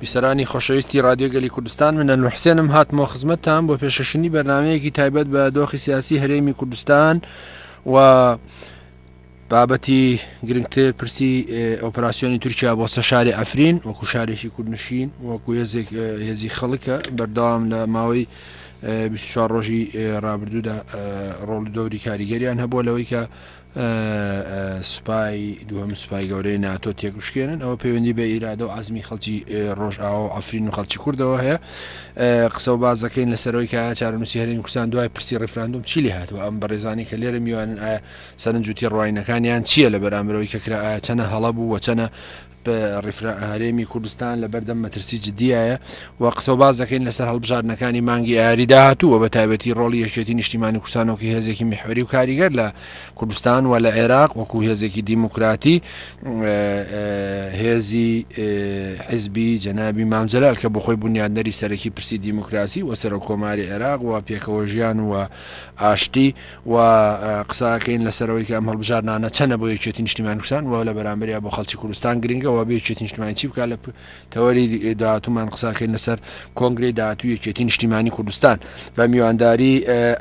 بیسەرانی خۆشەویستی رادیۆگەلی کوردستان منە نوحسێنم هاتمەوە خزمەتتان بۆ پێشەشنی بەرنمەیەکی تایبەت بە دۆخی سیاسی هەرێمی کوردستان و بابەتی گرنگتر پرسی ئۆپراسسیۆنی تورکیا بۆ سە شاری ئەفرین وەکو شارێکی کوردنشین وەکو هێزێک هێزی خەڵکە بەردەوام لە ماوەی بیست و چوار ڕۆژی ڕابردوودا ڕۆڵ و دەوری کاریگەریان هەبووە لەوەی کە سوپای دووەم سوپای گەورەی ناتۆ تێکشکێنن ئەوە پەیوەندی بە ئیرادە و ئازمی خەڵکی ڕۆژئاوا و ئەفرین و خەڵکی کوردەوە هەیە قسە و بازەکەین لەسەرەوەی کە چارەنووسی هەرێمی کوردستان دوای پرسی ڕیفراندوم چی لێ هاتووە ئەم بەڕێزانی کە لێرە میوانن ئایا سەرنجوتی ڕواینەکانیان چییە لە بەرامبەرەوەی کە کرا ئایا چەنە هەڵە بوو وەچەنە هەرێمی کوردستان لە بەردەم مەترسی جدیایە و قسەوباز دەکەین لەسەر هەڵبژاردنەکانی مانگی ئاری داهاتوو و بە تایبەتی ڕۆڵی یەکێتی نیشتیمانی کوردستانۆکی هێزێکی میحوری و کاریگەر لە کوردستان و لە عێراق وەکو هێزێکی دیموکراتی هێزی حزبی جەنابی مامجلال کە بخۆی بنیادنەری سەرەکی پرسی دیموکراسی و سەرۆک کۆماری عێراق و پێکەوە ژیان و ئاشتی و قسەکەین لەسەر ئەوەی کە ئەم هەڵبژاردنانە چەنە بۆ یەکێتی نیشتیمانی کوردستان و لە بەرامبەریا بۆ خەڵکی کوردستان گرنگە و بێ یەکێتی نیشتیمانی چی بکات لە تەوەری داهاتوومان قسەکەین لەسەر کۆنگری داهاتوو یەکێتی نیشتیمانی کوردستان بە میوانداری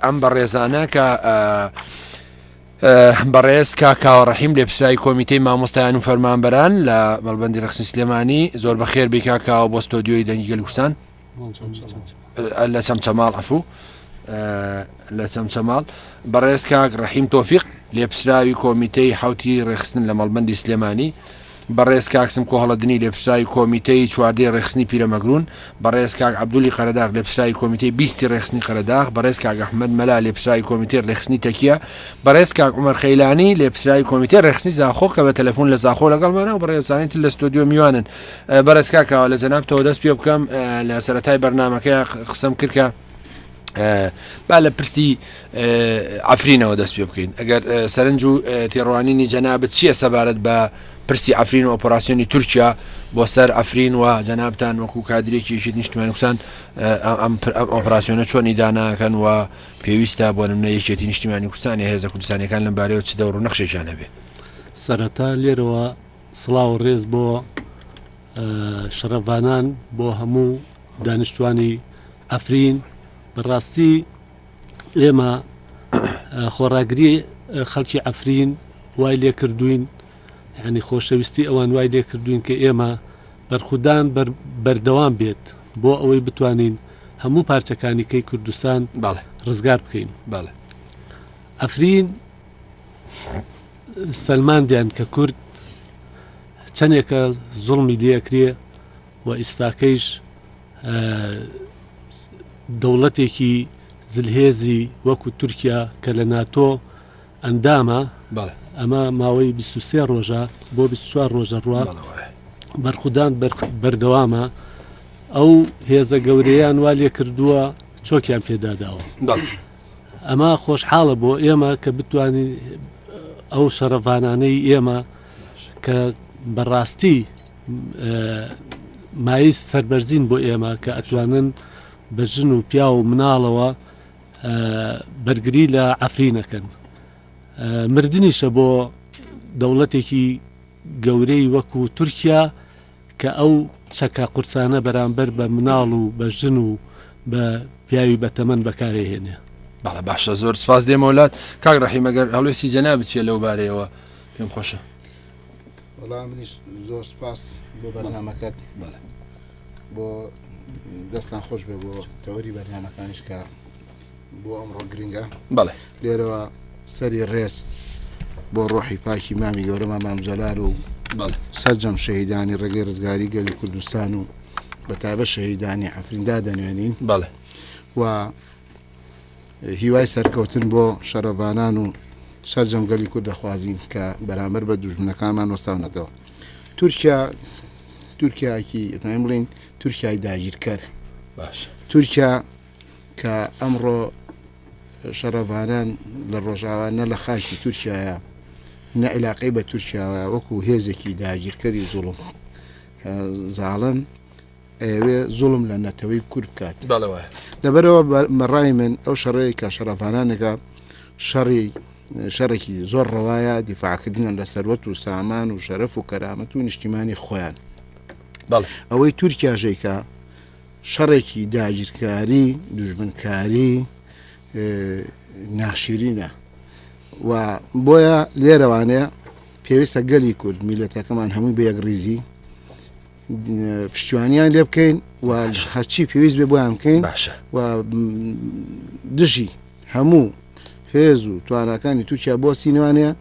ئەم بەڕێزانە کە بەڕێز کاکاوە ڕحیم لێ پسرای کۆمیتەی مامۆستایان و فەرمانبەران لە مەڵبندی ڕخسی سلێمانی زۆر بەخێر بیکاکاوە بۆ ستۆدیۆی دەنگی گەلکوسان لە چەمچەماڵ ئەفوو لە چەمچەماڵ بەڕێز کاک ڕحیم تۆفیق لێپسراوی کۆمیتەی حوتی ڕێخستن لە مەڵبندی سلێمانی بەڕێز کاکسم کۆهڵەدنی لێپسراوی کۆمیتەی چواردەی ڕێخستنی پیرەمەگرون بەڕێز کاک عبدولی قەرداغ لێپسراوی کۆمیتەی بیستی ڕێخستنی قەرداغ بەڕێز کاک ئەحمد مەلا لێپسراوی کۆمیتەی ڕێخستنی تەکیە بەڕێز کاک عمر خەیلانی لێپسراوی کۆمیتەی ڕێخستنی زاخۆ کە بە تەلەفۆن لە زاخۆ لەگەڵمانە و بەڕێزانانی تر لە ستۆدیۆ میوانن بەڕێز کاک کاوە لە جەنابتەوە دەست پێ بکەم لە سەرەتای بەرنمەکەی قسەم کرد کە با لە پرسی ئەفرینەوە دەست پێ بکەین ئەگەر سەرنج و تێڕوانینی جەنابەت چییە سەبارەت بە پرسی ئەفرین و ئۆپەراسسیۆنی تورکیا بۆ سەر ئەفرین و جەنابان وەکو کادرێکیشی نیشتمانی کوسان ئەم ئۆپراسسیۆنە چۆنی داناکەن و پێویستە بۆ نمە یەکێتی نیشتمانی کوردستانی هێزە کوردستانەکان لەم بارەوە چ دەوڕ نەخشێکیان هەبێ سەرەتا لێرەوە سڵاو و ڕێز بۆ شەڕڤانان بۆ هەموو دانیشتوانی ئەفرین بەڕاستی ئێمە خۆڕاگری خەڵکی ئەفرین وای لێ کردوین ینی خۆشەویستی ئەوان وای لێ کردوین کە ئێمە بەرخودان بەردەوام بێت بۆ ئەوەی بتوانین هەموو پارچەکانیکەی کوردستان ڕزگار بکەین باڵێ ئەفرین سەلماندیان کە کورد چەندێکە زوڵمی لەکرێ و ئیستاکەیش دەوڵەتێکی زلهێزی وەکو تورکیا کە لە ناتۆ ئەندامە ئەمە ماوەی 23 ڕۆژە بۆ 24 ڕۆژە ڕوە بەرخودان بەردەوامە ئەو هێزە گەورەیان وا لێ کردووە چۆکیان پێداداوە. ئەمە خۆشحاڵە بۆ ئێمە کە بتوانین ئەو شەڕڤانانەی ئێمە کە بەڕاستی مایز سربەرزین بۆ ئێمە کە ئەتوانن بە ژن و پیا و مناڵەوە بەرگری لە ئەفرینەکەن مردنیشە بۆ دەوڵەتێکی گەورەی وەکو تورکیا کە ئەو چەکە قورسانە بەرامبەر بە مناڵ و بە ژن و بە پیاوی بەتەمەن بەکارەیهێنێ. بەڵێ باشە زۆر سپاس دێمەوە لات کاک ڕحیم ئەگەر هەڵوێستی جەنا بچیە لەو بارەیەوە پێم خۆشە وەڵا منیش زۆر سپاس بۆ بەرنمەکەت بۆ دەستان خۆش بێ بۆ تەوەری بەرنمەکانیش کە بۆ ئەمڕۆ گرنگە بەڵێ لێرەوە سەری ڕێز بۆ ڕۆحی پاکی مامی گەورەما مامجلار و سەررجەم شەهیدانی ڕێگەی ڕزگاری گەلی کوردستان و بە تابە شەهیدانی ئەفریندا دەنوێنین بەڵێ و هیوای سەرکەوتن بۆ شەرەڤانان و سەررجەمگەلی کورد دەخوازین کە بەرامبەر بە دوژمنەکانمان وەستاونەتەوە تورکیا تورکیاکی ئەتنایم بڵین تورکای داگیرکەر باش تورکیا کە ئەمڕۆ شەڕڤانان لە ڕۆژاوا نە لە خاکی تورکایە نە عیلاقەی بە تورکیاوە وەکو هێزێکی داگیرکەری زوڵم زاڵن ئەوێ زوڵم لە نەتەوەی کورد بکات بەڵەوە لەبەرەوە مەڕای من ئەو شەڕەیە کە شەڕڤانانەکە شەڕی شەڕێکی زۆر ڕەوایە دیفاعکردنیان لە سەروەت و سامان و شەرەف و کەرامەت و نیشتیمانی خۆیان بەڵ ئەوەی تورکیا ژێکە شەڕێکی داگیرکاری دوژمنکاری ناشیرینە و بۆیە لێرەوانەیە پێویستە گەلی کورد میلەتەکەمان هەمووی بە یەکڕیزی پشتیوانیان لێ بکەین و هەرچی پێویست بێ بۆیان بکەین باشە و دژی هەموو هێز و توانەکانی تووشیا بۆ سینوانەیە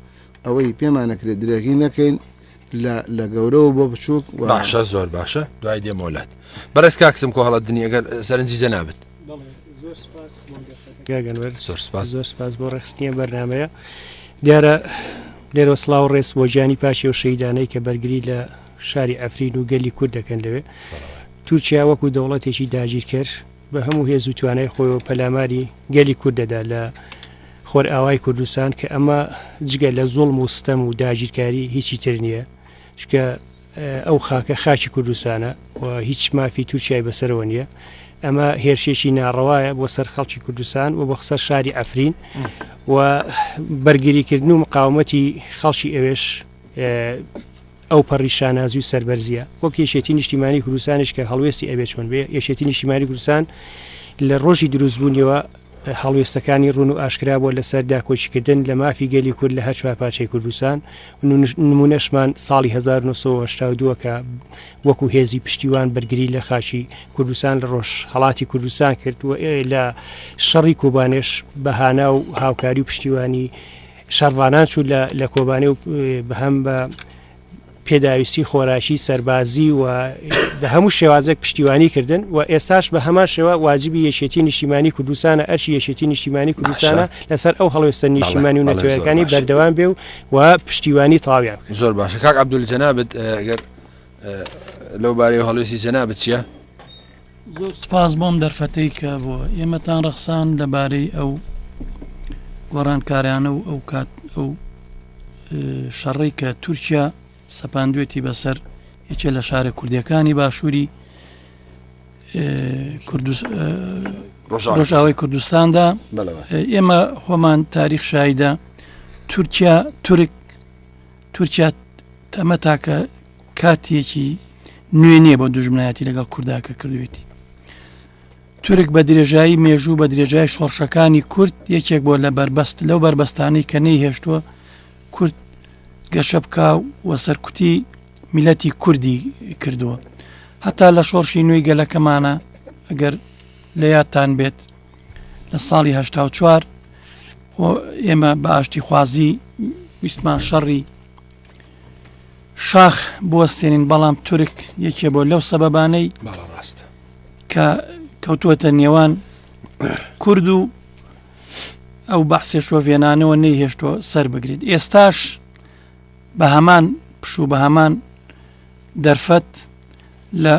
ئەوەی پێمانەکرێت درێژی نەکەین لە لە گەورەوە بۆ بچووک باشە زۆر باشە دوای دێ مۆلات بەڕێز کاکسم کۆ هەڵە دنیا گەر سەرنجی جە نابێت زۆر سپاس زۆر سپاس بۆ ڕێخستنیە بەرنمەیە دیارە لێرە سلااو ڕێز بۆ گیانی پاشی و شەیدانەی کە بەرگری لە شاری ئەفرین و گەلی کورد دەکەن لەوێ تورکیا وەکو دەوڵەتێکی داگیرکەر بە هەموو هێز و توانای خۆیەوە پەلاماری گەلی کورد دەدا لە خۆرئاوای کوردستان کە ئەمە جگە لە زۆڵم و ستەم و داگیرکاری هیچی تر نییە چکە ئەو خاکە خاچی کوردستانە و هیچ مافی تورکای بەسەرەوە نییە ئەمە هێرشێکی ناڕەوایە بۆ سەر خەڵکی کوردستان و بۆ خسەر شاری ئەفرین و بەرگریکردن و مقاومەتی خەڵکی ئەوێش ئەوپەڕی شانازی و سەربەرزیە وەک یەکێتی نیشتیمانی کوردستانیش کە هەڵوێستی ئەبێ چۆن بێ یەکێتی نیشتیمانی کوردستان لە ڕۆژی دروستبوونیەوە هەڵوێستەکانی ڕون و ئاشکرا بۆ لەسەر داکۆچیکردن لە مافی گەلی کورد لە هەر چوار پارچەی کوردستان نمونەشمان ساڵی 1992 کە وەکو هێزی پشتیوان بەرگری لە خاچی کوردستان لە ڕۆژ هەڵاتی کوردستان کرد و لە شەڕی کوبانێش بەهانا و هاوکاری و پشتیوانی شەڕڤانان چوو لە کۆبانێ و بەهەم بە پێداویستی خۆراکی سەربازی و بە هەموو شێوازێک پشتیوانی کردن و ئێستاش بە هەمان شێوە واجبی یەکێتی نیشتیمانی کوردستانە ئەرشی یەکێتی نیشتیمانی کوردستانە لەسەر ئەو هەڵوێستە نیشتیمانی و نەتەوەکانی بەردەوام بێ و و پشتیوانی تاویان زۆر باشە کاک عبدول جەنابەت گەر لەو بارەی هەڵوێستی جەنابەت چیە؟ زۆر سپاس بۆم دەرفەتەی کە بۆ ئێمەتان ڕەخسان لەبارەی ئەو گۆڕانکارانە و ئەو کات ئەو شەڕی کە تورکیا سەپاندوێتی بەسەر یەکێ لە شارە کوردیەکانی باشووری ڕۆژاوی کوردستاندا ئێمە خۆمان تاریخ شایدە تورکیا تورک تورکیا تەمە تاکە کاتیەکی نوێ نیە بۆ دوژمنایەتی لەگەڵ کوردا کە کردوێتی تورک بە درێژایی مێژوو بە درێژای شۆڕشەکانی کورد یەکێک بۆ لە بەربەست لەو بەربەستانی کە نەی هێشتووە کورد گەشە بکە و سەرکوتی میلەتی کوردی کردووە هەتا لە شۆڕشی نوێی گەلەکەمانە ئەگەر لە یادتان بێت لە ساڵی هشتا و چوار ئێمە بە ئاشتی خوازی ویستمان شەڕی شاخ بوەستێنین بەڵام تورک یەکێ بۆ لەو سەبەبانەی ڕاستە کە کەوتووەتە نێوان کورد و ئەو بەحسێ شۆڤێنانەوە نەیهێشتوە سەر بگریت ئێستاش بە هەمان پشوو بە هەمان دەرفەت لە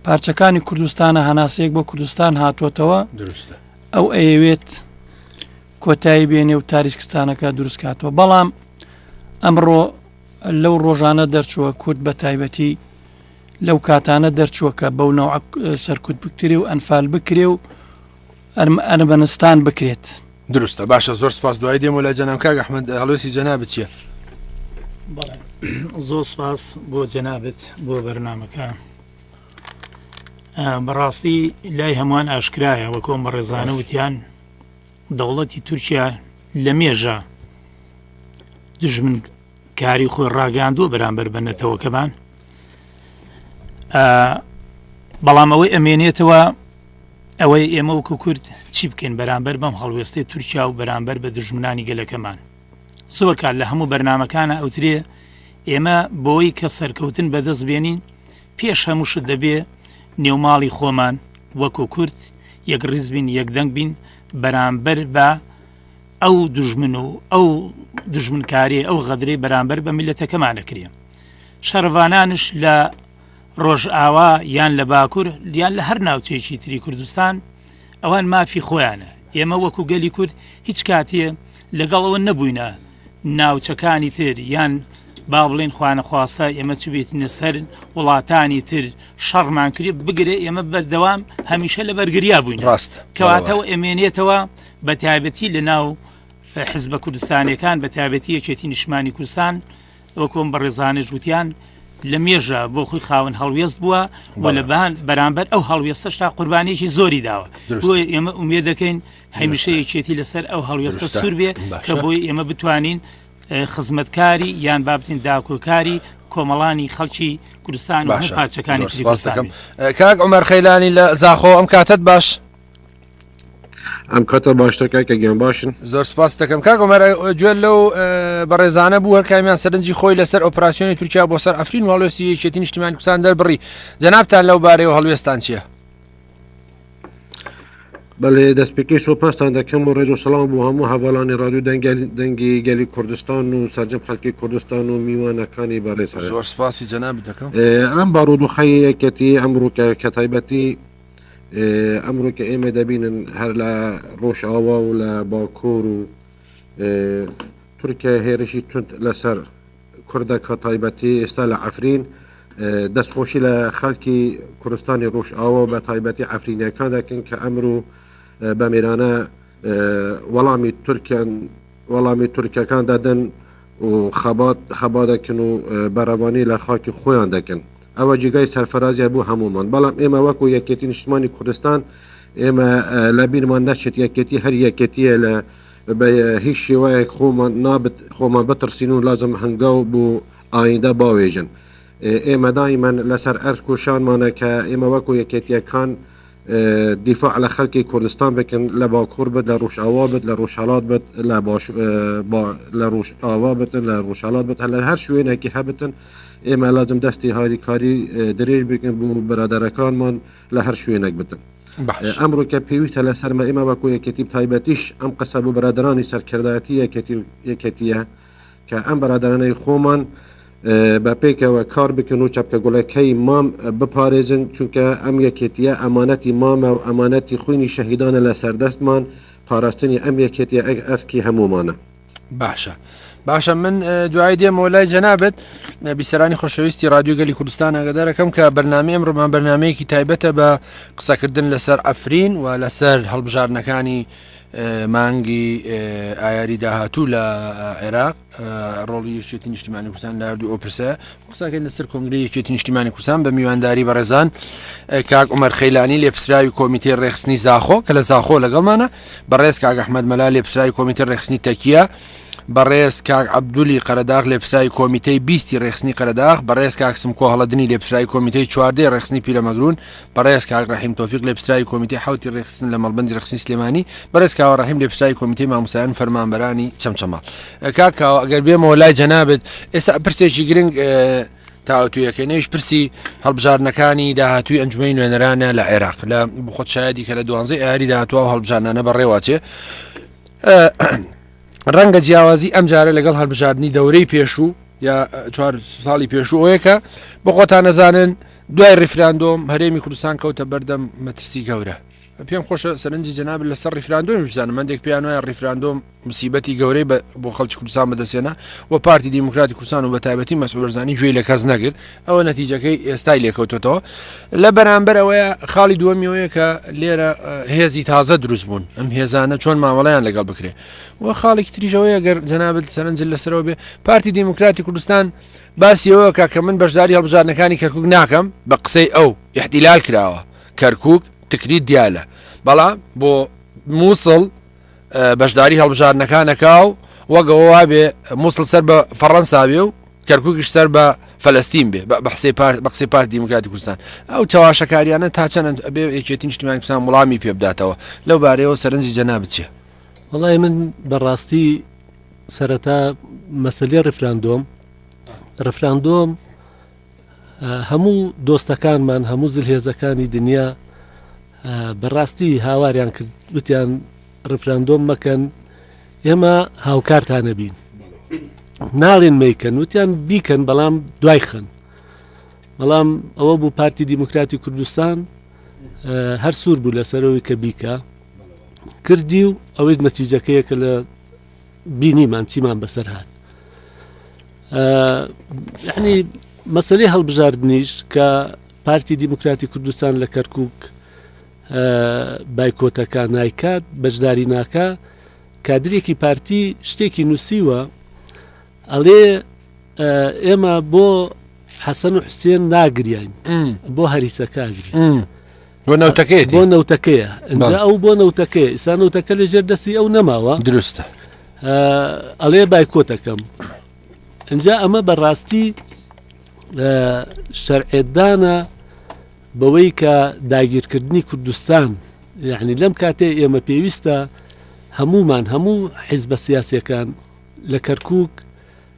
پارچەکانی کوردستانە هەناسەیەک بۆ کوردستان هاتووەتەوە ئەو ئەیەوێت کۆتایی بێنێ و تاریسکستانەکە دروست کاتەوە بەڵام ئەمڕۆ لەو ڕۆژانە دەرچووە کورد بە تایبەتی لەو کاتانە دەرچووە کە بەو ناو سەرکوت بکتری و ئەنفال بکرێ و ئەرم ئەرمەنستان بکرێت دروستە باشە زۆر سپاس دوای دێمە لای جەنام کاک ئەحمد هەڵوێستی جەنا بچیە زۆر سپاس بۆ جەنابەت بۆ بەرنمەکە بەڕاستی لای هەمووان ئاشکرایە وەکۆم بە ڕێزانە وتیان دەوڵەتی تورکیا لە مێژە دژمن کاری خۆی ڕاگەاندووە بەرامبەر بە نەتەوەکەمان بەڵام ئەوەی ئەمێنێتەوە ئەوەی ئێمە وکو کورد چی بکەین بەرامبەر بەم هەڵوێستی تورکیا و بەرامبەر بە دژمنانی گەلەکەمان زۆر کار لە هەموو بەرنمەکانە ئەوترێ ئێمە بۆی کە سەرکەوتن بەدەست بێنین پێش هەموو شت دەبێ نێو ماڵی خۆمان وەکو کورد یەک ڕیز بین یەک دەنگ بین بەرامبەر بە ئەو دژمن و ئەو دژمنکاری ئەو غەدرەی بەرامبەر بە میلەتەکەمان دەکرێن شەڕڤانانش لە ڕۆژئاوا یان لە باکوور یان لە هەر ناوچەیەکی تری کوردستان ئەوان مافی خۆیانە ئێمە وەکو گەلی کورد هیچ کاتێ لەگەڵەوە نەبووینە ناوچەکانی تر یان با بڵێین خوانەخواستە ئێمە چبێتینە سەر وڵاتانی تر شەڕمان کرێ بگرێ ئێمە بەردەوام هەمیشە لە بەرگریا بووین ڕاست کەواتەوە ئەمێنێتەوە بە تایبەتی لە ناو حزبە کوردستانەکان بە تابەتی یەکێتی نیشمانی کوردستان وەکۆم بە ڕێزانە جووتیان لە مێژە بۆ خۆی خاون هەڵوێست بووە و لەبان بەرامبەر ئەو هەڵوێستەشتا قوربانێکی زۆری داوە ئێمە ئومێ دەکەین هەمیشە یەکێتی لەسەر ئەو هەڵوێستە سوور بێ کە بۆی ئێمە بتوانین خزمەتکاری یان بابتین داکۆکاری کۆمەڵانی خەڵکی کوردستان پارچەکانی سپاسەکەم کاک عمەر خەیلانی لە زاخۆ ئەم کاتت باش ئەم کاتە باشتەکە کە گیان باشن زۆر سپاس دەکەم کاگۆمەر گوێ لەو بەڕێزانە بوو هەرکامیان سەرنجی خۆی لەسەر ئۆپراسسیۆنی تورکیا بۆ سەر ئەفرین وڵۆسی یەکێتی نیشتیمان کوسان دەربڕی جەنابان لەو بارەیەوە هەڵوێستان چیە بەڵێ دەستپێکی سۆپاستان دەکەم و ڕێز و سەڵام بۆ هەموو هەواڵانی ڕادو دەنگی گەلی کوردستان و سەرجەم خەڵکی کوردستان و میوانەکانی بەڕێز زۆر سپاسی جەنابی دەکەم ئەم بارودۆخی یەکەتی ئەمڕۆکە کە تایبەتی ئەمڕۆ کە ئێمە دەبینن هەر لە ڕۆژئاوا و لە باکۆر و تورکیا هێرشی تند لەسەر کوردەک هە تایبەتی ئێستا لە عەفرین دەست خۆشی لە خەلکی کورستانی ڕوژ ئاوە بە تایبەتی عەفرینەکان دەکەن کە ئەمرو بە میرانە وەڵامی تورکیان وەڵامی تورکەکان دەدەن و خەبات خەبا دەکەن و بەرەوانی لە خاکی خۆیان دەکەن ئەوە جیگای سەرفرازیە بۆ هەمومان بەڵام ئێمە وەکو یەکێتی نیشتمانی کوردستان ئێمە لە بیرمان نەچێت یەکێتی هەر یەکێتیە لە بە هیچ شێوایەک خۆمان نابت خۆمان بتڕسین و لازم هەنگاو بۆ ئایندە باوێژن. ئێمە دایمەن لە سەر ئەرک و شانمانە کە ئێمە وەکو یەکێتییەکان دیفاع لە خەلکی کوردستان بکن لە باکور بت لە روژئاوا بت لە روژهەلات بت لە باش لە روژئاوا بت لە روژهەلات بت هەلە هەر شوێنەکی هەبتن ئێمە لازم دەستی هاریکاری درێژ بکن بو برادەرەکانمان لە هەر شوێنێک بتن ئەمڕۆکە پێویستە لە سەرمە ئێمە وەکو یەکێتی تایبەتیش ئەم قسە بۆ بەرادرانی سەرکردایەتی یەکەتیە کە ئەم بەرادرانەی خۆمان بە پێکەوە کار بکەن و چەپکە گوڵەکەی مام بپارێزن چونکە ئەم یەکێتیە ئەمانەتی مامە و ئەمانەتی خوینی شەهیدانە لە سەردەستمان پاراستنی ئەم یەکێتی ئەگ ئەرکی هەمومانە. باشە باشە من دوای دێمەوە لای جەنابەت بیسەرانی خۆشەویستی رادیوگەلی کوردستان ئەگەدارەکەم کە بەرنامی ئەم ڕۆمان بەرنمەیەکی تایبەتە بە قسەکردن لەسەر ئەفرین و لەسەر هەڵبژاردنەکانی مانگی ئایاری داهاتوو لە عێراق ڕۆڵی یەکێتی نیشتمانی کوردستان لەردوو ئۆپرسە قسەکەی لەسەر کۆنگرەی یەکێتی نیشتیمانی کوردستان بە میوانداری بەڕێزان کاک عمر خەیلانی لێپسراوی کۆمیتەی ڕێخستنی زاخۆ کە لە زاخۆ لەگەڵمانە بەڕێز کاک ئەحمد مەلا لێپسراوی کۆمیتە ڕێخستنی تەکیە بەڕێز کاک عبدولی قەرداغ لێپسراوی کۆمیتەی بیستی ڕێخستنی قەرداغ بەڕێز کاک سمکۆ هەڵەدنی لێپسراوی کۆمیتەی چواردەی ڕێخستنی پیرەمەگرون بەڕێز کاک ڕەحیم تۆفیق لێپسراوی کۆمیتەی حەوتی ڕێکخستن لە مەڵبەندی ڕێکخستنی سلێمانی بەڕێز کاوە ڕەحیم لێپسراوی کۆمیتەی ماموسایان فەرمانبەرانی چەمچەماڵ کاک کاوە ئەگەر بێمەوە لای جەنابێت ئێستا پرسێکی گرنگ تاوتویەکەی نوێش پرسی هەڵبژارنەکانی داهاتوی ئەنجومی نوێنەرانە لە عێراق لە بخۆت شایدی کە لە دوانزە ئاری داهاتوە و هەڵبژانانە بەڕێواچێ ڕەنگە جیاوازی ئەم جارە لەگەڵ هەڵبژاردننی دەورەی پێشوو یا چوار ساڵی پێشووەیەکە بە خۆتان نەزانن دوای ریفراندۆم هەرێمی کوردستان کەوتە بەردەم مەترسی گەورە پێم خۆشە سەرنجی جەناب لەسەر ریفراندۆمی بزانم مندێک پێیان وایە ریفراندۆم مسیبەتی گەورەی بۆ خەڵکی کوردستان بەدەسێنە و پارتی دیموکراتی کوردستان و بە تایبەتی مەسولەرزانی گوێی لە کەس نەگرت ئەوە نەتیجەکەی ئێستای لێکەوتەوە لە بەرامبەر ئەوەیە خاڵی دووەمیەوەیە کە لێرە هێزی تازە دروست بوون ئەم هێزانە چۆن مامەڵیان لەگەڵ بکرێت و خاڵێکی تریژەوەیە گەر جەنابەت سەرنج لەسەرەوە بێ پارتی دیموکراتی کوردستان باسی ئەوە کە کە من بەشداری هەڵبژاردنەکانی کەرکوک ناکەم بە قسەی ئەو ئیحتیلال کراوە کەرکوک تکریت دیالە بەڵام بۆ مووسڵ بەشداری هەڵبژاردنەکانەکە و وەگەوە وابێ مووسڵ سەر بە فەڕەنسا بێ و کەرکوکیش سەر بە فلسطین بێ بە بحسێ پارت بە قسەی پارت دیموکراتی کوردستان ئەو چەواشەکاریانە تا چەند ئەبێ یەکێتی نیشتیمانی کوردستان وڵامی پێ بداتەوە لەو بارەیەوە سەرنجی جەنابت چیە؟ وەڵای من بەڕاستی سەرەتا مەسلەی ڕفراندۆم ڕفراندۆم هەموو دۆستەکانمان هەموو زلهێزەکانی دنیا بەڕاستی هاواریان کرد وتیان ڕفراندۆم مەکەن ئێمە هاوکارتانەبین ناڵێن میکەن وتیان بیکەن بەڵام دوای خن بەڵام ئەوە بوو پارتی دیموکراتی کوردستان هەر سوور بوو لەسەرەوەی کە بیکە کردی و ئەوەی نەتیجەکەیە کە لە بینیمان چیمان بەسەر هاات یعنی مەسلەی هەڵبژاردنیش کە پارتی دیموکراتی کوردستان لە کەرکک بایکۆتەکە نایکات بەشداری ناکە کادرێکی پارتی شتێکی نووسیوە ئەڵێ ئێمە بۆ حەسەن و حوسێن ناگریین بۆ هەریسەکەگری بۆ نەوتەکەی بۆ نەوتەکەیە ئەجا ئەو بۆ نەوتەکەی ئسا نەوتەکە لە ژێر دەستی ئەو نەماوە دروستە ئەڵێ بایکۆتەکەم ئەجا ئەمە بەڕاستی شەرعێدانە بەوەی کە داگیرکردنی کوردستان یعنی لەم کاتێ ئێمە پێویستە هەمومان هەموو حیزبە سیاسەکان لە کەرکک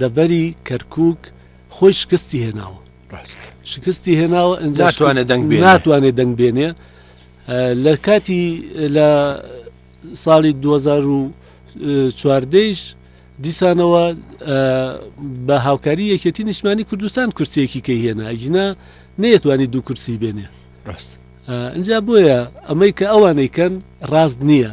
دەڤەری کەرکوک خۆی شکستی هێناوە شکستی هێناوە ناتوانێت دەنگ ناتوانێت دەنگ بێنێ لە کاتی لە ساڵی 2014 دیسانەوە بە هاوکاری یەکێتی نیشمانی کوردستان کورسێکی کە هێنا ئەگینا نەیەتوانی دوو کورسی بێنێ ڕاست ئەجا بۆیە ئەمەی کە ئەوانەی کەن ڕاست نییە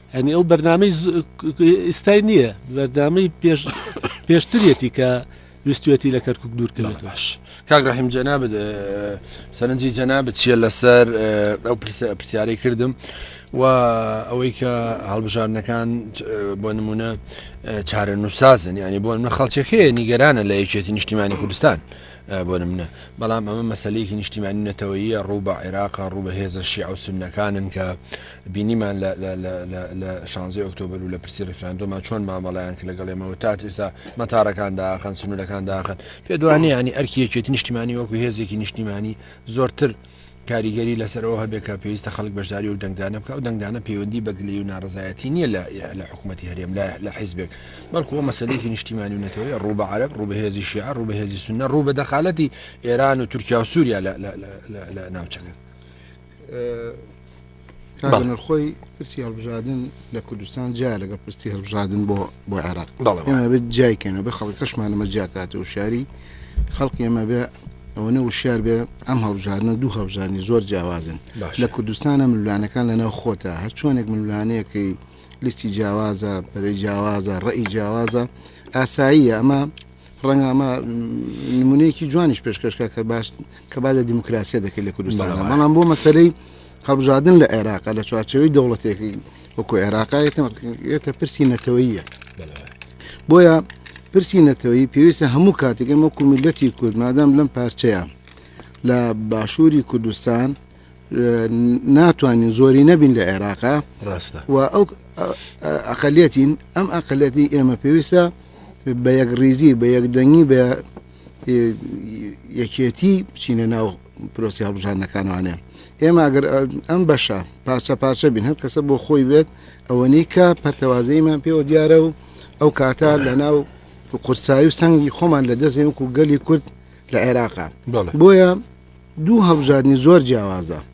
یانی ئەو بەرنامەی ئستای نییە بەردامەی پێش پێشترێتی کە ویستێتی لە کەرکک دوورکەوێت باش کاگراهیم جەنا سەرنجی جەنا بچیە لەسەر ئەو پرسیارەی کردم و ئەوەی کە هەڵبژاردنەکان بۆ نمونە چارە نووسازن ینی بۆ نە خەڵچەکەی نیگەرانە لە یەکێتی نیشتیمانی کوردستان بۆ نمونە، بەڵام ئەمە مەسەلەیەکی نیشتیمانی و نەتەوەییە، ڕوو بە عێراقە، ڕوو بە هێزە شیعە و سوننەکانن کە بینیمان لە شانزەی ئۆکتۆبەر و لە پرسی ڕیفراندۆما چۆن مامەڵەیان کرد لەگەڵ ئێمە و تات ئێستا مەتارەکان داخەن سنوورەکان داخن پێدوانێ ینی ئەرکی یەکێتی نیشتیمانی وەکو هێزێکی نیشتیمانی زۆرتر کاریگەری لەسەر ئەوە هەبێت کە پێویستە خەڵک بەشداری ئەو دەنگدانە بکات، ئەو دەنگدانە پەیوەندی بە گلەیی و ناڕەزایەتی نییە لە لە حکوومەتی هەرێم، لە لە حیزبێک، بەڵکو ئەوە مەسەلەیەکی نیشتیمانی و نەتەوەیە ڕوو بە عەرەب، ڕوو بە هێزی شیعە، ڕوو بە هێزی سوننە، ڕوو بە دەخالەتی ئێران و تورکیا و سووریا لە لە لە لە ناوچەکە. نرخۆی پرسی هەڵبژادن لە کوردستان جیا لەگە پرستی هەڵبژادن بۆ بۆ عێراق بێت جایکەنەوە بە خەڵک کەشمانەمە جیاکات و شاری خەڵکی ئەمە بێ ئەوە نە وشار بێ ئەم هەڵبژارنە دوو هەڵبژانی زۆر جیاوازن لە کوردستانە ملوانەکان لەناو خۆتە هەر چۆنێک ملوانەیەکەی لیستی جیاوازە پەرەی جیاوازە ڕێی جیاوازە ئاساییە ئەمە ڕەنگە ئەمە نمونەیەکی جوانیش پێشکەشکە کە باش کە با لە دیموکراسیە دەکەی لە کوردستان بەڵام بۆ مەسەرەی هەڵبژاردن لە عێراقا لە چوارچەوەی دەوڵەتێکی وەکو عێراقا یەتە پرسی نەتەوەیە بۆیە پرسی نەتەوەی پێویستە هەموو کاتێک ئەمە کومیلەتی کورد مادام لەم پارچەیە لە باشووری کوردستان ناتوانین زۆری نەبین لە عێراقا ڕاستە و ئەو ئەقلەتین ئەم ئەقلەتی ئێمە پێویستە بە یەک ریزی بە یەکدەنگی بە یەکێتی بچینە ناو پرۆسی هەڵبژاردنەکانوانێ ئێمە ئەگەر ئەم بەشە پارچە پارچە بین هەر کەسە بۆ خۆی بێت ئەوەنەی کە پەرتەوازەیمان پێوە دیارە و ئەو کاتە لە ناو قورسایی و سەنگی خۆمان لە دەستێ وکو گەلی کورد لە عێراقا بۆیە دوو هەڵبژاردننی زۆر جیاوازە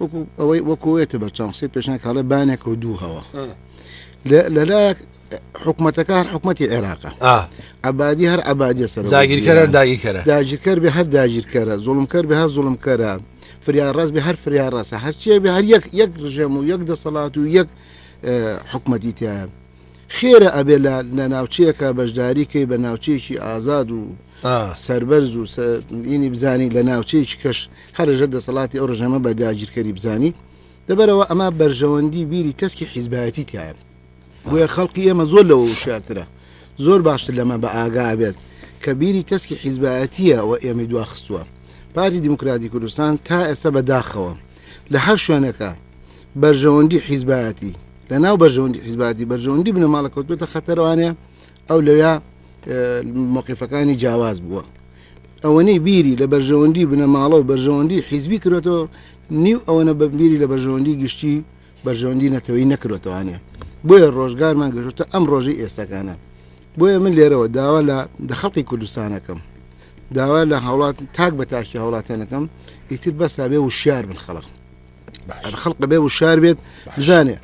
وەکو ئەوەی وەکوێتە بە چاند قسەی پێشناک هەڵێ بانێک و دوو هەوە لەلایەک حکوومەتەکە هەر حکوومەتتی عێراقە عبادی هەر عبادی سەر داگیرکەرە داگیرکەرە داگیرکەر بە هەر داگیرکەرە زۆڵمکەر بە هەر زۆڵمکەرە فریان ڕاست بە هەر فریان ڕاستە هەرچیە بە هەر یەک یەک ڕژێم و یەک دەسەڵات و یەک حکوومەتتی تیا خێرە ئەبێ لە ناوچەیەکە بەشداری کەی بە ناوچەیەکی ئازاد و سربەرز و بزانی لە ناوچەیەکی کەش هەر لەژێر دەسەڵاتی ئەو ڕژێمە بە داگیرکەری بزانیت، لەبەرئەوە ئەمە بەرژەوەندی بیری تەسکی حیزبایەتی تیایە، بۆیە خەڵقی ئێمە زۆر لەوە وشیارترە، زۆر باشتر لەمە بە ئاگا ئەبێت کە بیری تەسکی حیزبایەتییە وە ئێمەی دواخستووە. پارتی دیموکراتی کوردستان تا ئێستا بە داخەوە لە هەر شوێنێکا بەرژەوەندی حیزبایەتی، لە ناو بەرژەوەندی حیزبایەتی بەرژەوەندی بنەماڵە کەوتووەتە خەتەر ئەوانەیە ئەو لەوێ مەوقیفەکانی جیاواز بووە. ئەوەنەی بیری لە بەرژەوەندی بنەماڵە و بەرژەوەندی حیزبی کرێتەوە نیو ئەوەنە بە بیری لە بەرژەوەندی گشتی بەرژەوەندی نەتەوەی نەکرێتەوانێ بۆیە ڕۆژگارمان گەشتە ئەم ڕۆژی ئێستاکانە بۆیە من لێرەوە داوا لە دەخەڵقی کوردستانەکەم داوا لە هاوڵات تاک بە تاکی هاوڵاتیانەکەم ئیتر بەسا بێ وشار بن خەڵق خەڵق بێ وشار بێت بزانێ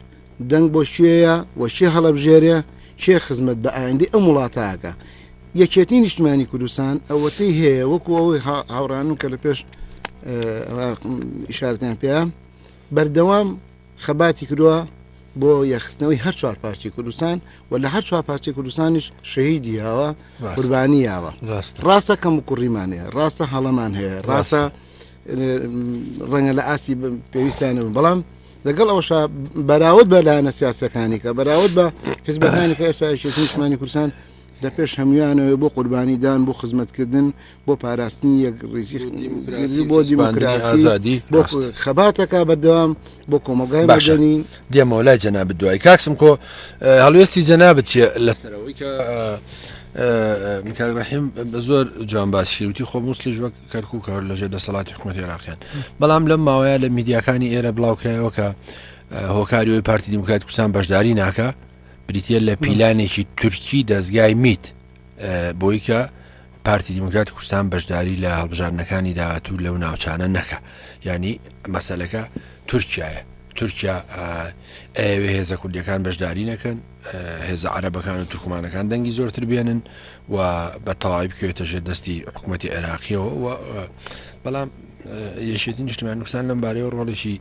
دەنگ بۆ کوێیە و کێ هەڵەبژێرێ، کێ خزمەت بە ئایندەی ئەم وڵاتە ئەکا؟ یەکێتیی نیشتمانیی کوردستان ئەوەتەی هەیە، وەکوو ئەوەی هاوڕێیانم کە لە پێش ئیشارەتیان پێیا، بەردەوام خەباتی کردووە بۆ یەخستنەوەی هەر چوار پارچی کوردستان و لە هەر چوار پارچی کوردستانیش شەهیدی یاوە قوربانی یاوە ڕاستە کەم و کوڕیمان هەیە ڕاستە هەڵەمان هەیە ڕاستە ڕەنگە لە ئاستی پێویستیانەوە بەڵام لەگەڵ ئەوشا بەراود بە لایەنە سیاسەکانی کە بەراود بە حزبەکانی کە ئێسایشی نیشمانی کوردستان لە پێش هەمویانەوەی بۆ قوربانی دان بۆ خزمەتکردن بۆ پاراستنی یەک ڕیزی دیموکراسی بۆ دیموکراسی ئازادی بۆ ڕاست. خەباتەکە بەردەوام بۆ کۆمەڵگای باشە. مەدەنی دێمەوە لای جەناب دوای کاکسم کۆ اه، هەڵوێستی جەنابت چیە لە سەرەوەی کە اه، اه، اه، کاک ڕحیم زۆر جوان باسی کردوتی خۆ موسلیش وەک کەرکوک هەر لەژێر دەسەڵاتی حکومەت عێراقیان بەڵام لەم ماوەیە لە میدیاکانی ئێرە بڵاوکرایەوە کە هۆکاریەوەی پارتی دیموکرات کوردستان بەشداری ناکە بریتە لە پیلانێکی تورکی دەستگای میت بۆی کە پارتی دیموکرات کوردستان بەشداری لە هەڵبژاردنەکانی داهاتوو لەو ناوچانە نەکە ینی مەسلەکە تورکایە تورکیا ئەوێ هێزە کوردیەکان بەشداری نەکەن هێزە عەرەبەکان و تورکمانەکان دەنگی زۆرتر بێنن و بە تەواوی بکەوێتە ژێر دەستی حکوومەتتی عێراقیەوە و بەڵام یەشێتی نیشتمان کوردستان لەم بارەیە ڕۆڵێکی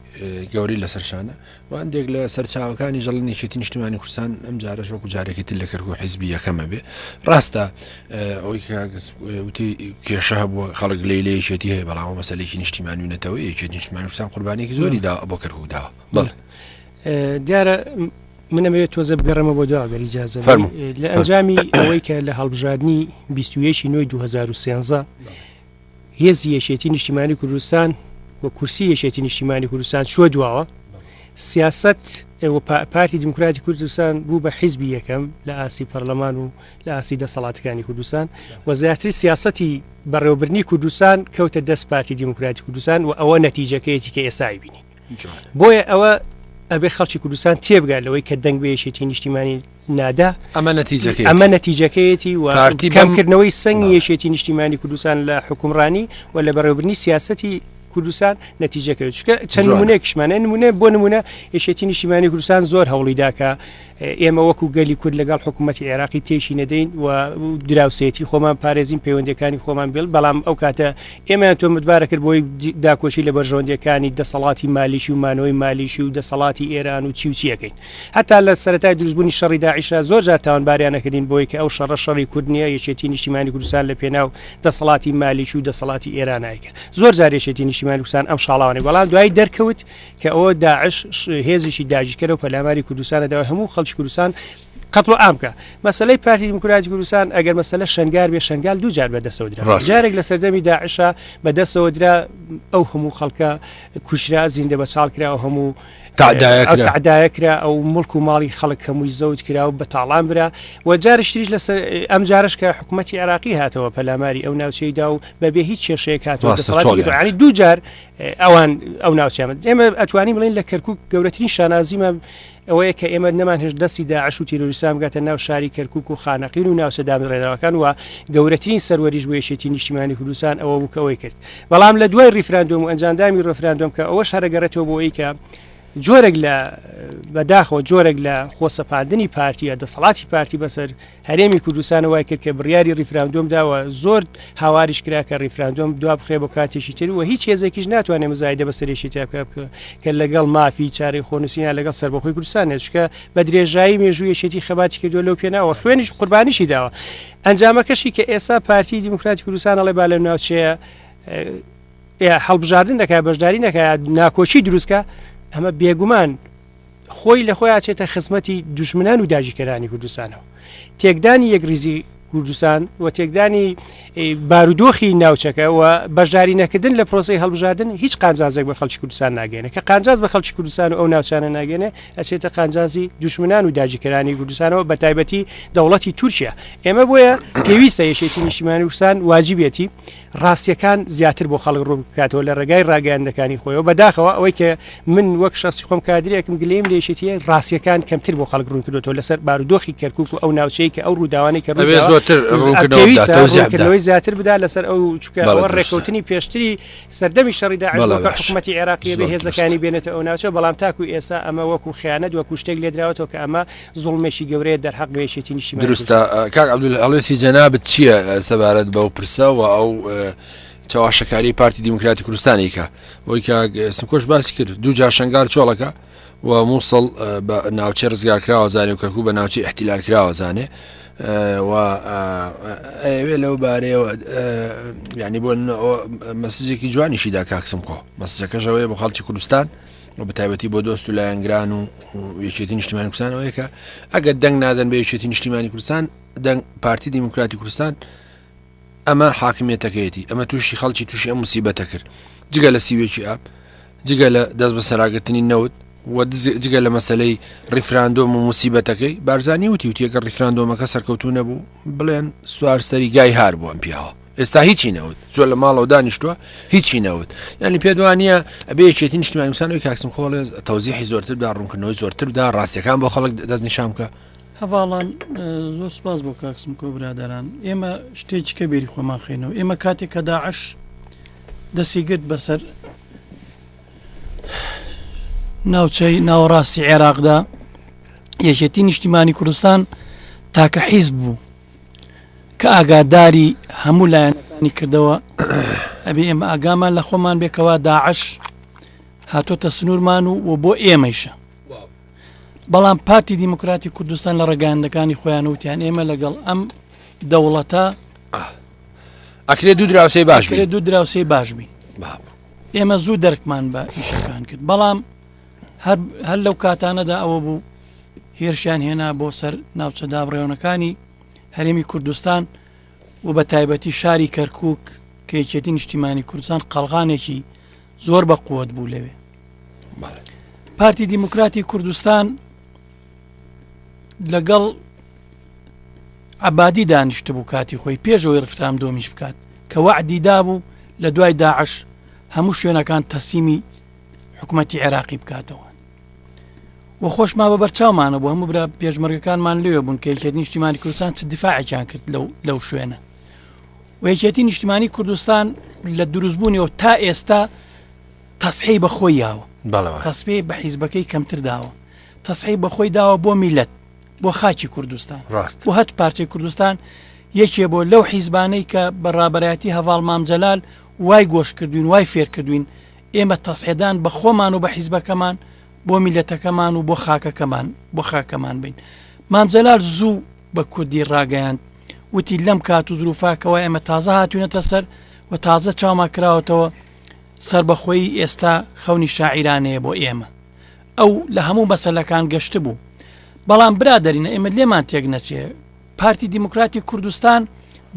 گەوری لە سەرشانە و هەندێک لە سەرچاوەکانی ژەڵ نیشێتی نیشتمانی کوردستان ئەم جارە شۆک و جارێکی تر لە کەرک و حیزبی یەکەمە بێ ڕاستە ئەوی وتی کێشە هەبووە خەڵک لی لە یەکێتی هەیە بەڵام مەسلێکی نیشتیمان و نەتەوە یەکێت نیشتمان کوردستان قوربانێکی زۆری دا بۆ کەرکودا بڵ دیارە من ئەمەوێت تۆزە بگەڕێمە بۆ دوا گەر ئیجازە فەرموو. بەم لە فەرموو. ئەنجامی ئەوەی کە لە هەڵبژاردنی 21 نوێی 2013 هێزی یەکێتی نیشتیمانی کوردستان و کورسی یەکێتی نیشتیمانی کوردستان چوە دواوە سیاست ئێوە پا- پارتی دیموکراتی کوردستان بوو بە حیزبی یەکەم لە ئاسی پەرلەمان و لە ئاسی دەسەڵاتەکانی کوردستان و زیاتری سیاستی بەڕێوەبرنی کوردستان کەوتە دەست پارتی دیموکراتی کوردستان و ئەوە نەتیجەکەیەتی کە ئێستا ئەیبینین. بۆیە ئەوە ئەبێ خەڵکی کوردستان تێبگات لەوەی کە دەنگ بە یەکێتی نیشتیمانی نادا ئەمە نەتیجەکە ئەمە نەتیجەکەیەتی و پارتی بەمکردنەوەی سنگ یەکێتی نیشتیمانی کوردستان لە حکومڕانی و لە بەڕێوبرنی سیاستی کوردستان نەتیجەکەوێت چکە چەند نمونەیەکشمانە نمونێ بۆ نمونە یشێتی نیشتیمانی کوردستان زۆر هەوڵیداکە ئێمە وەکو گەلی کورد لەگەڵ حکوومەتی عێراقی تێکی نەدەین و دراوسێتی خۆمان پارێزین پەیوەندەکانی خۆمان بێڵ بەڵام ئەو کاتە ئێمەیان تۆمتبارە کرد بۆی داکۆشی لە بەرژەوەندەکانی دەسەڵاتی مالیشی و مانەوەی مالیشی و دەسەڵاتی ئێران و چیوچیەکەین هەتا لە سەرای دروستبوونی شەڕی داعیشە زۆر جار تاوانباریانەکردین بۆی کە ئەو شەڕە شەڕی کورد نیە یەکێتی نیشتیمانی کوردستان لە پێناو دەسەڵاتی مالیش و دەسەڵاتی ئێرانایکە زۆر جارێشێتی نیشتیمانی کوردستان ئەم شاڵاوانێک بەڵام دوای دەرکەوت کە ئەوە داعش هێزیی داگیرکەرەوە پەلاماری کوردستانە داوای هەموو خەڵکی کوردستان قەتڵ ئامکە مەسلەی پارتی دیموکراتی کوردستان ئەگەر مەسلە شنگار بێ شنگال دوو جار بەدەسەوە درا جارێک لە سەردەمی داعشە بەدەستەوە درا ئەو هەموو خەڵکە کوشرا زیندە بە چاڵ کرا و هەموو تعدایە کرا ئەو ملک و ماڵی خەڵک هەمووی زەوت کرا و بە تاڵان برا و جارشتریش لە ئەم جارش کە حکوومەتتی عراقی هاتەوە پەلاماری ئەو ناوچەیدا و بەبێ هیچ کێشەیە کاتەوە دوو جار ئەوان ئەو ناوچەمە ئێمە ئەتوانی بڵین لە کەرکک گەورەترین شانازیمە ئەوەیە کە ئێمە نەمان هێش دەستی داعش و تیرۆریسام گاتە ناو شاری کەرکک و خانەقین و ناوچە دامرێنەوەکان وە گەورەترین سەروەریش بۆ یەشێتی نیشتیمانی کوردستان ئەوە بووکەوەی کرد بەڵام لە دوای ریفراندۆم و ئەنجامدامی ڕفراندۆم کە ئەوە شارەگەڕێتەوە بۆ ئەوی کە جۆرێک لە بەداخەوە جۆرێک لە خۆسەپاندنی پارتیە دەسەڵاتی پارتی بەسەر هەرێمی کوردستان وای کرد کە بڕیاری ریفراندۆم داوە زۆر هاواریش کرا کە ریفراندۆم دوا بخرێ بۆ کاتێکی تر و هیچ هێزێکیش ناتوانێت مزایدە بە سەرێکی تاکە بکە کە لەگەڵ مافی چارەی خۆنووسینا لەگەڵ سەربەخۆی کوردستان نێچکە بە درێژایی مێژوویەکێتی خەباتی کردو لەو پێناوە خوێنیش قوربانیشی داوە ئەنجامەکەشی کە ئێستا پارتی دیموکراتی کوردستان ئەڵێ با لە ناوچەیە هەڵبژاردن دەکات بەشداری نەکات ناکۆچی دروستکە ئەمە بێگومان خۆی لە خۆی ئاچێتە خزمەتی دوژمنان و داگیرکەرانی کوردستانەوە تێکدانی یەکریزی کوردستان و تێکدانی بارودۆخی ناوچەکە و بەشداری نەکردن لە پرۆسی هەڵبژاردن هیچ قانجازێک بە خەڵکی کوردستان ناگەێنە کە قانجاز بە خەڵکی کوردستان و ئەو ناوچانە ناگەێنێ ئەچێتە قانجازی دوشمنان و داجیکەرانی کوردستانەوە بە تایبەتی دەوڵەتی تورکیا ئێمە بۆیە پێویستە یەکێتی نیشتیمانی وسان واجبێتی ڕاستیەکان زیاتر بۆ خەڵک ڕوون بکاتەوە لە ڕێگای ڕاگەیاندەکانی خۆیەوە بەداخەوە ئەوەی کە من وەک شخصی خۆم کادرێکم گلیم لێشتیە ڕاستیەکان کەمتر بۆ خەڵک ڕوونکردەوە لەسەر بارودۆخی کەرکک و ئەو ناوچەیە کە ئەو ڕووداوانی کە زۆترەوەی زیاتر بدا لەسەر ئەو چکەوە ڕێکوتنی پێشتری سەردەمی شەڕیدا حکوومەتتی عێراقی بە هێزەکانی بێنێتە ئەو ناوچە بەڵام تاکو ئێسا ئەمە وەکو خیانەت وەکو شتێک لێدراوەەوە کە ئەمە زوڵمێکی گەورەیە دەرهەق بە یەکێتی نیشتیمانی دروستە کاک عبدول هەڵێسی جەنابت چییە سەبارەت بەو پرسە و ئەو چاواشەکاری پارتی دیموکراتی کوردستانی کە وەی کاک سمکۆش باسی کرد دوو جا شنگال چۆڵەکە و مووسڵ بە ناوچە ڕزگار کراوە زانێ و کەکو بە ناوچی احتیلال کراوە زانێ و ئەوێ لەو بارەیەوە ینی بۆ مەسجێکی جوانیشیدا کاکسم کۆ مەسجەکەشەوەی بۆ خەڵکی کوردستان و بەتابەتی بۆ دۆست و لایەنگران و یەکێتی نیشتیمانی کوردستان ئەوەیە کە ئەگەر دەنگ نادەن بە یەکێتی نیشتیمانی کوردستان دەنگ پارتی دیموکراتی کوردستان ئەمە حاکمیەتەکەیەتی ئەمە تووشی خەڵکی تووشی ئەم مسیبەتە کرد جگە لە سیوێکی ئاپ جگە لە دەست بە سەراگرتنی نەوت و جگە لە مەسلەی ڕیفراندۆم و مسیبەتەکەی بارزانانی وتی وتیەکە ڕیفراندۆمەکە سەرکەوتو نەبوو بڵێن سوار سەری گای هار بووم پیاوە ئێستا هیچی نەوت زۆر لە ماڵەوە دانیشتووە هیچی نەوت ینی پێ دوانە ئەبێ یەکێتی نیشتمان مسانەوەی کاکسم خۆڵێ تەوزیحی زۆرتر دا ڕوونکردنەوەی زۆرتر دا ڕاستەکان بۆ خەڵک دەست نیشام بکە هەواڵان زۆر سپاس بۆ کاکسم کۆ برادران ئێمە شتێکی کە بێری خۆمان خینەوە ئێمە کاتێک کە داعش دەسی گرت بەسەر ناوچەی ناوەڕاستی عێراقدا یەکێتی نیشتیمانی کوردستان تاکە حیز بوو کە ئاگاداری هەموو لایەنەکانی کردەوە ئەبێ ئێمە ئاگامان لە خۆمان بێ کەوا داعش هاتۆتە سنوورمان و و بۆ ئێمەیشە بەڵام پارتی دیموکراتی کوردستان لە ڕێگاندەکانی خۆیان وتیان ئێمە لەگەڵ ئەم دەوڵەتە ئەکرێ دوو دراوسی باش بێ دوو دراوسی باش بین ئێمە زوو دەرکمان بە ئیشەکان کرد بەڵام هەر لەو کاتانەدا ئەوە بوو هێرشیان هێنا بۆ سەر ناوچە دابڕێونەکانی هەرێمی کوردستان و بە تایبەتی شاری کەرکک کە یەکێتی نیشتیمانی کوردستان قەلغانێکی زۆر بە قووەت بوو لەوێ پارتی دیموکراتی کوردستان لەگەڵ عبادی دانیشت بوو کاتی خۆی پێشەوەی ڕفتام دۆمیش بکات کە وەعدیدا بوو لە دوای داعش هەموو شوێنەکان تەسیمی حکوومەتتی عێراقی بکاتەوە و خۆشمان بە بەرچاومانە بۆ هەموو برا پێشمەرگەکانمان لێ بوون کە یەکێت نیشتیمانی کوردستان چ دیفاعێکیان کرد لەو لەو شوێنە و یەکێتی نیشتیمانی کوردستان لە دروستبوونیەوە تا ئێستا تەسحی بەخۆی یاوە بەڵەوە تەسبی بە حیزبەکەی کەمتر داوە تەسحی بەخۆی داوە بۆ میلەت بۆ خاکی کوردستان ڕاست و هەت پارچەی کوردستان یەکێ بۆ لەو حیزبانەی کە بە ڕابەتی هەواڵ مامجلال وای گۆش کردوین وای فێرکردوین ئێمە تەسعێدان بە خۆمان و بە حیزبەکەمان بۆ میلەتەکەمان و بۆ خاکەکەمان بۆ خاکەمان بین. مام جەلال زوو بە کوردی ڕاگەیاند وتی لەم کات و زروفا کەوا ئێمە تازە هاتوونەتە سەر و تازە چاوما کراوەتەوە سەربەخۆیی ئێستا خەونی شاعیرانەیە بۆ ئێمە. ئەو لە هەموو مەسەلەکان گەشتبوو. بەڵام برادەرینە ئێمە لێمان تێک نەچێ پارتی دیموکراتی کوردستان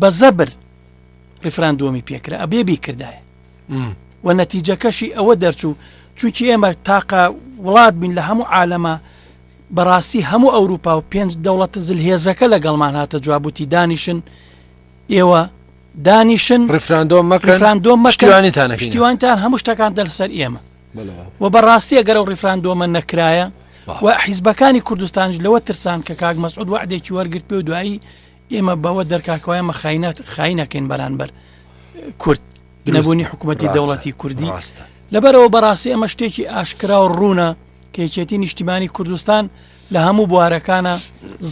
بە زەبر ڕیفراندۆمی پێکرا ئەبێ بیکردایە. وە نەتیجەکەشی ئەوە دەرچوو چونکی ئێمە تاقە وڵات بین لە هەموو عالەمە بەڕاستی هەموو ئەوروپا و پێنج دەوڵەت زل هێزەکە لە گەڵمان هاتە جوابوتی دانیشن ئێوە دانیشن ڕفراندۆ مەکەفراندۆ مەشتیوانیتانەشتیوانتان هەموو شتەکان دەرسەر ئێمە و بەڕاستی ئەگەر و ڕفراندۆمە نەکرایە و حیزبەکانی کوردستانش لەوە ترسان کە کاک مەسعود وعدێکی وەرگرت پێ و دوایی ئێمە بەوە دەرکاکەوایە مە خاینات خاینەکەین بەرانبەر کورد نەبوونی حکوومەتی دەوڵەتی کوردی ڕاستە لەبەرەوە بەڕاستی ئەمە شتێکی ئاشکرا و ڕوونە کەیچێتی نیشتیمانی کوردستان لە هەموو بوارەکانە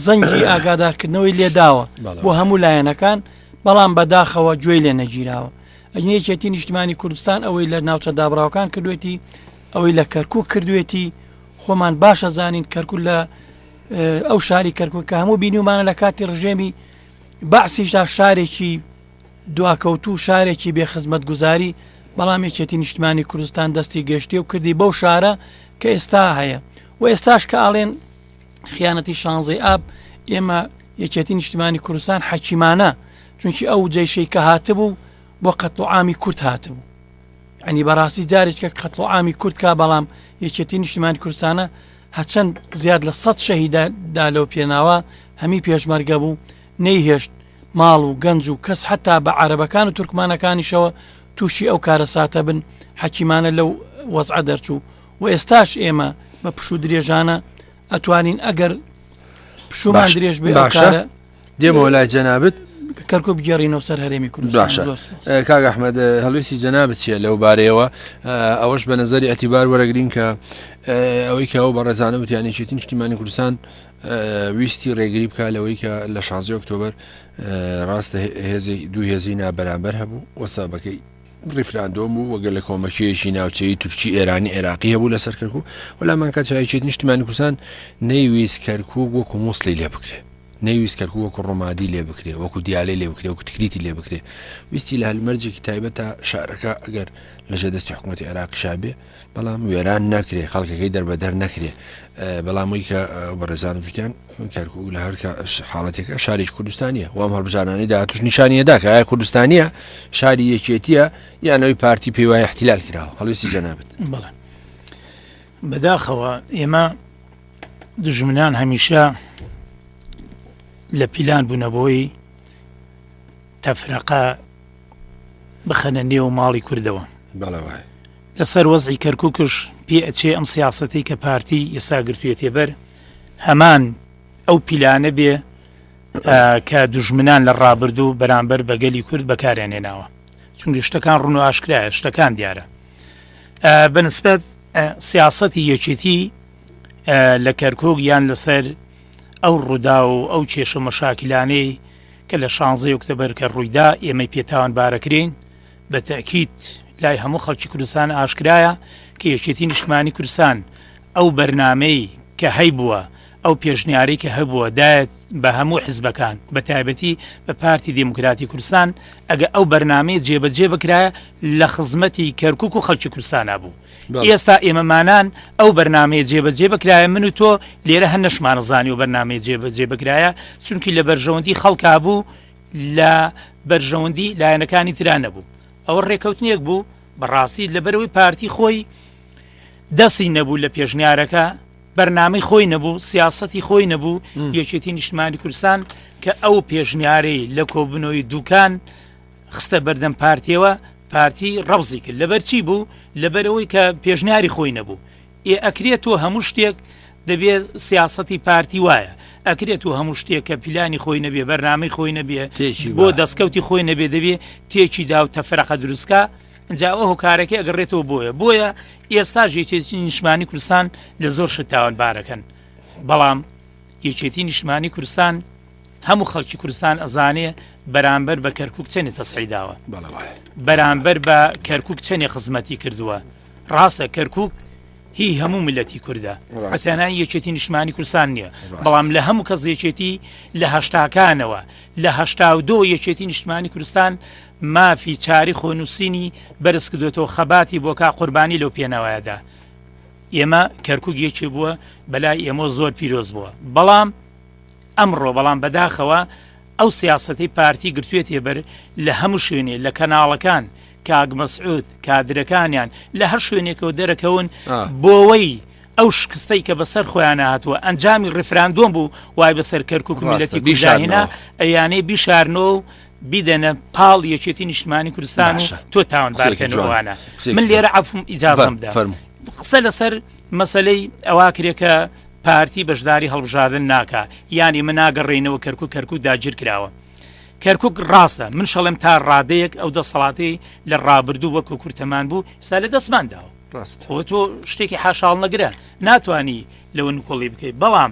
زەنگی ئاگادارکردنەوەی لێداوە بۆ هەموو لایەنەکان بەڵام بەداخەوە گوێی لێ نەگیراوە ئەنیەکێتی نیشتمانی کوردستان ئەوەی لە ناوچە دابراوکان کردوێتی ئەوەی لە کەرکک کردوێتی خۆمان باشە زانین کەرکک لە ئەو شاری کەرکک کە هەموو بینیمانە لە کاتی ڕژێمی بەعسیشدا شارێکی دواکەوتو شارێکی بێ خزمەت گوزاری بەڵام یەکێتی نیشتمانی کوردستان دەستی گەشتی و کردی بەو شارە کە ئێستا هەیە و ئێستاش کە ئاڵێن خیانەتی شانزەی ئاب ئێمە یەکێتی نیشتمانی کوردستان حەکیمانە چونکی ئەو جێشەی کە هاتبوو بۆ قەتڵ ئامی کورت هاتبوو ئەنی بەڕاستی جارێکە قەتڵ ئامی کورتکە بەڵام یەکێتی نیشتمانی کوردستانە هەچەند زیاد لە سەد شەهیدە دا لەو پێناوە هەمی پێشمەرگە بوو، نەیهێشت ماڵ و گەنج و کەس حەتا بە عارەبەکان و تورکمانەکانیشەوە تووشی ئەو کارەساتە بن، حەکیمانە لەو وەزعە دەرچوو و ئێستاش ئێمە بە پشوو درێژانە ئەتوانین ئەگەر پشوومان درێژ بێ ئەو کارە. دێمەوە لای جەنابت کەرکۆ بگەڕینەوە سەر هەرێمی کورد باشە کاک ئەحمد هەڵویستی جەنا بچیە لەو بارەیەوە ئەوەش بە نظری ئەتیبار وەرەگرین کە ئەوەی کە ئەو بە ڕێزانە وتیانی چێتی نیشتیمانی کوردستان ویستی ڕێگری بکە لەوەی کە لە 16 ئۆکتۆبر ڕاستە هێزی دوو هێزی نابەرامبەر هەبوو وەسابەکەی ریفراندۆم بوو وەگەر لە کۆمەکیەکی ناوچەی تورکی ئێرانی عێراقی هەبوو لە سەرکەکو وەلامان کە چایچێت نیشتیمانی کوردستان نەیویست کەرکک وەکو مووسلی لێ بکرێت نەیویست کەرکوک وەکو ڕمادی لێ بکرێ وەکو دیالەی لێ بکرێ وەکو تکریتی لێ بکرێ ویستی لە هەلمەرجێکی تایبەت تا شارەکە ئەگەر لە ژێ دەستی حکوومەتی عێراقی شابێ بەڵام وێران نەکرێ خەڵکەکەی دەربەدەر نەکرێ بەڵامەوەی کە بەڕێزان گوتیان کەرکوک لە هەرکە حاڵەتێکە شاریش کوردستانیە وام هەڵبژانانی داهاتوش نیشانیەدا کە ئایا کوردستانیە شاری یەکێتیە یانەوەی پارتی پێی وایە احتیلال کراوە هەڵویستی جەنابێت بەڵێ بەداخەوە ئێمە دوژمنان هەمیشە لە پیلان بوونە بۆی تەفرەقە بخەنە نێو ماڵی کوردەوە لەسەر وەزی کەرککش پێ ئەچێ ئەم سیاستی کە پارتی ئێساگرتوێتێ بەر هەمان ئەو پیلانە بێ کە دوژمنان لە ڕابردوو بەرامبەر بەگەلی کورد بەکاریانێناوە چونگە شتەکان ڕون و ئاشکرایە شتەکان دیارە بەنسبەت سیاسەتی یەکێتی لە کەرکک یان لەسەر ئەو ڕوودا و ئەو کێشە مەشاکلانەی کە لە شانزەی ئۆکتەبەرکە ڕوویدا ئێمەی پێتاوان بارەکرین بە تەکیت لای هەموو خەڵکی کوردستان ئاشکرایە کە یەکێتی نیشمانی کوردستان ئەو بەرنمەی کە هەی بووە ئەو پێشنیارەی کە هەبووە دایەت بە هەموو حزبەکان بە تایبەتی بە پارتی دیموکراتی کوردستان ئەگە ئەو بەرنمەی جێبەجێ بکرایە لە خزمەتی کەرکک و خەلکی کوردستانە بوو ئێستا ئێمەمانان ئەو بەرنمەیە جێبەجێ بکرایە من و تۆ لێرە هەر نەشمانەزانی و بەرنمەیە جێبەجێ بکرایە چونکی لە بەرژەوەندی خەڵکا بوو لە بەرژەوەندی لایەنەکانی تررا نەبوو ئەوە ڕێکەوتنیەک بوو بەڕاستی لەبەرەوەی پارتی خۆی دەسی نەبوو لە پێشنیارەکە بەرنامەی خۆی نەبوو سیاسەتی خۆی نەبوو یەکێتی نیشتمانی کوردستان کە ئەو پێشنیارەی لە کۆبنەوەی دوکان خستە بەردەم پارتیەوە پارتی ڕەوزی کرد لەبەر چی بوو لەبەرەوەی کە پێشنیاری خۆی نەبوو ئێ ئەکرێت تۆ هەموو شتێک دەبێت سیاستی پارتی وایە ئەکرێت و هەموو شتێک کە پیلانی خۆی نەبێ بەرنامەی خۆی نەبێ بۆ دەستکەوتی خۆی نەبێ دەبێ تێکی دا و تەفرەقە دروستکە جا ئەوە هۆکارەکەی ئەگەڕێتەوە بۆیە بۆیە ئێستاش یەکێتی نیشمانی کوردستان لە زۆر شت تاوانبارەکەن بەڵام یەکێتی نیشمانی کوردستان هەموو خەڵکی کوردستان ئەزانێ بەرامبەر بە کەرکک چەنی تەسعی داوە بەرامبەر بە کەرکک چەنی خزمەتی کردووە ڕاستە کەرکک هی هەموو ملەتی کووردە حسێنان یەکێتی نیشمانی کوردستان نییە بەڵام لە هەموو کەس یەکێتی لە هەشتاکانەوە لە هەشتا و دۆ یەکێتی نیشتمانی کوردستان مافی چاری خۆنوسینی بەرزکردۆتەوە خەباتی بۆکا قوربانی لەو پێناوایەدا ئێمە کەرکک یەکێ بووە بەلای ئێمە زۆر پیرۆز بووە بەڵام ئەمڕۆ بەڵام بەداخەوە ئەو سیاستەی پارتی گرتوێتێ بەر لە هەموو شوێنێ لە کەناڵەکان کاک مەسعود کادرەکانیان لە هەر شوێنێکەوە دەرەکەون بۆەوەی ئەو شکستەی کە بەسەر خۆیان هاتووە ئەنجامی ڕفراندۆم بوو وای بەسەر کەرکک میلەتی بیشاهێنا ئەیانەی بیشارنەوە بیدەنە پاڵ یەکێتی نیشتمانی کوردستان و تۆ تاوانبارکەن جوانە من لێرە عفم ئیجازم دا قسە لەسەر مەسلەی ئەوا کرێکە پارتی بەشداری هەڵبژاردن ناکە ینی من ناگەڕێنەوە کەرکک کەرکک داگیر کراوە کەرکک ڕاستە من شەڵێم تا ڕادەیەک ئەو دەسەڵاتی لە ڕابردوو وەکو کورتەمان بوو سا لە دەستمان داوە ڕاست تۆ شتێکی حاشاڵ نەگرە ناتانی لەوە نکۆڵی بکەیت بەڵام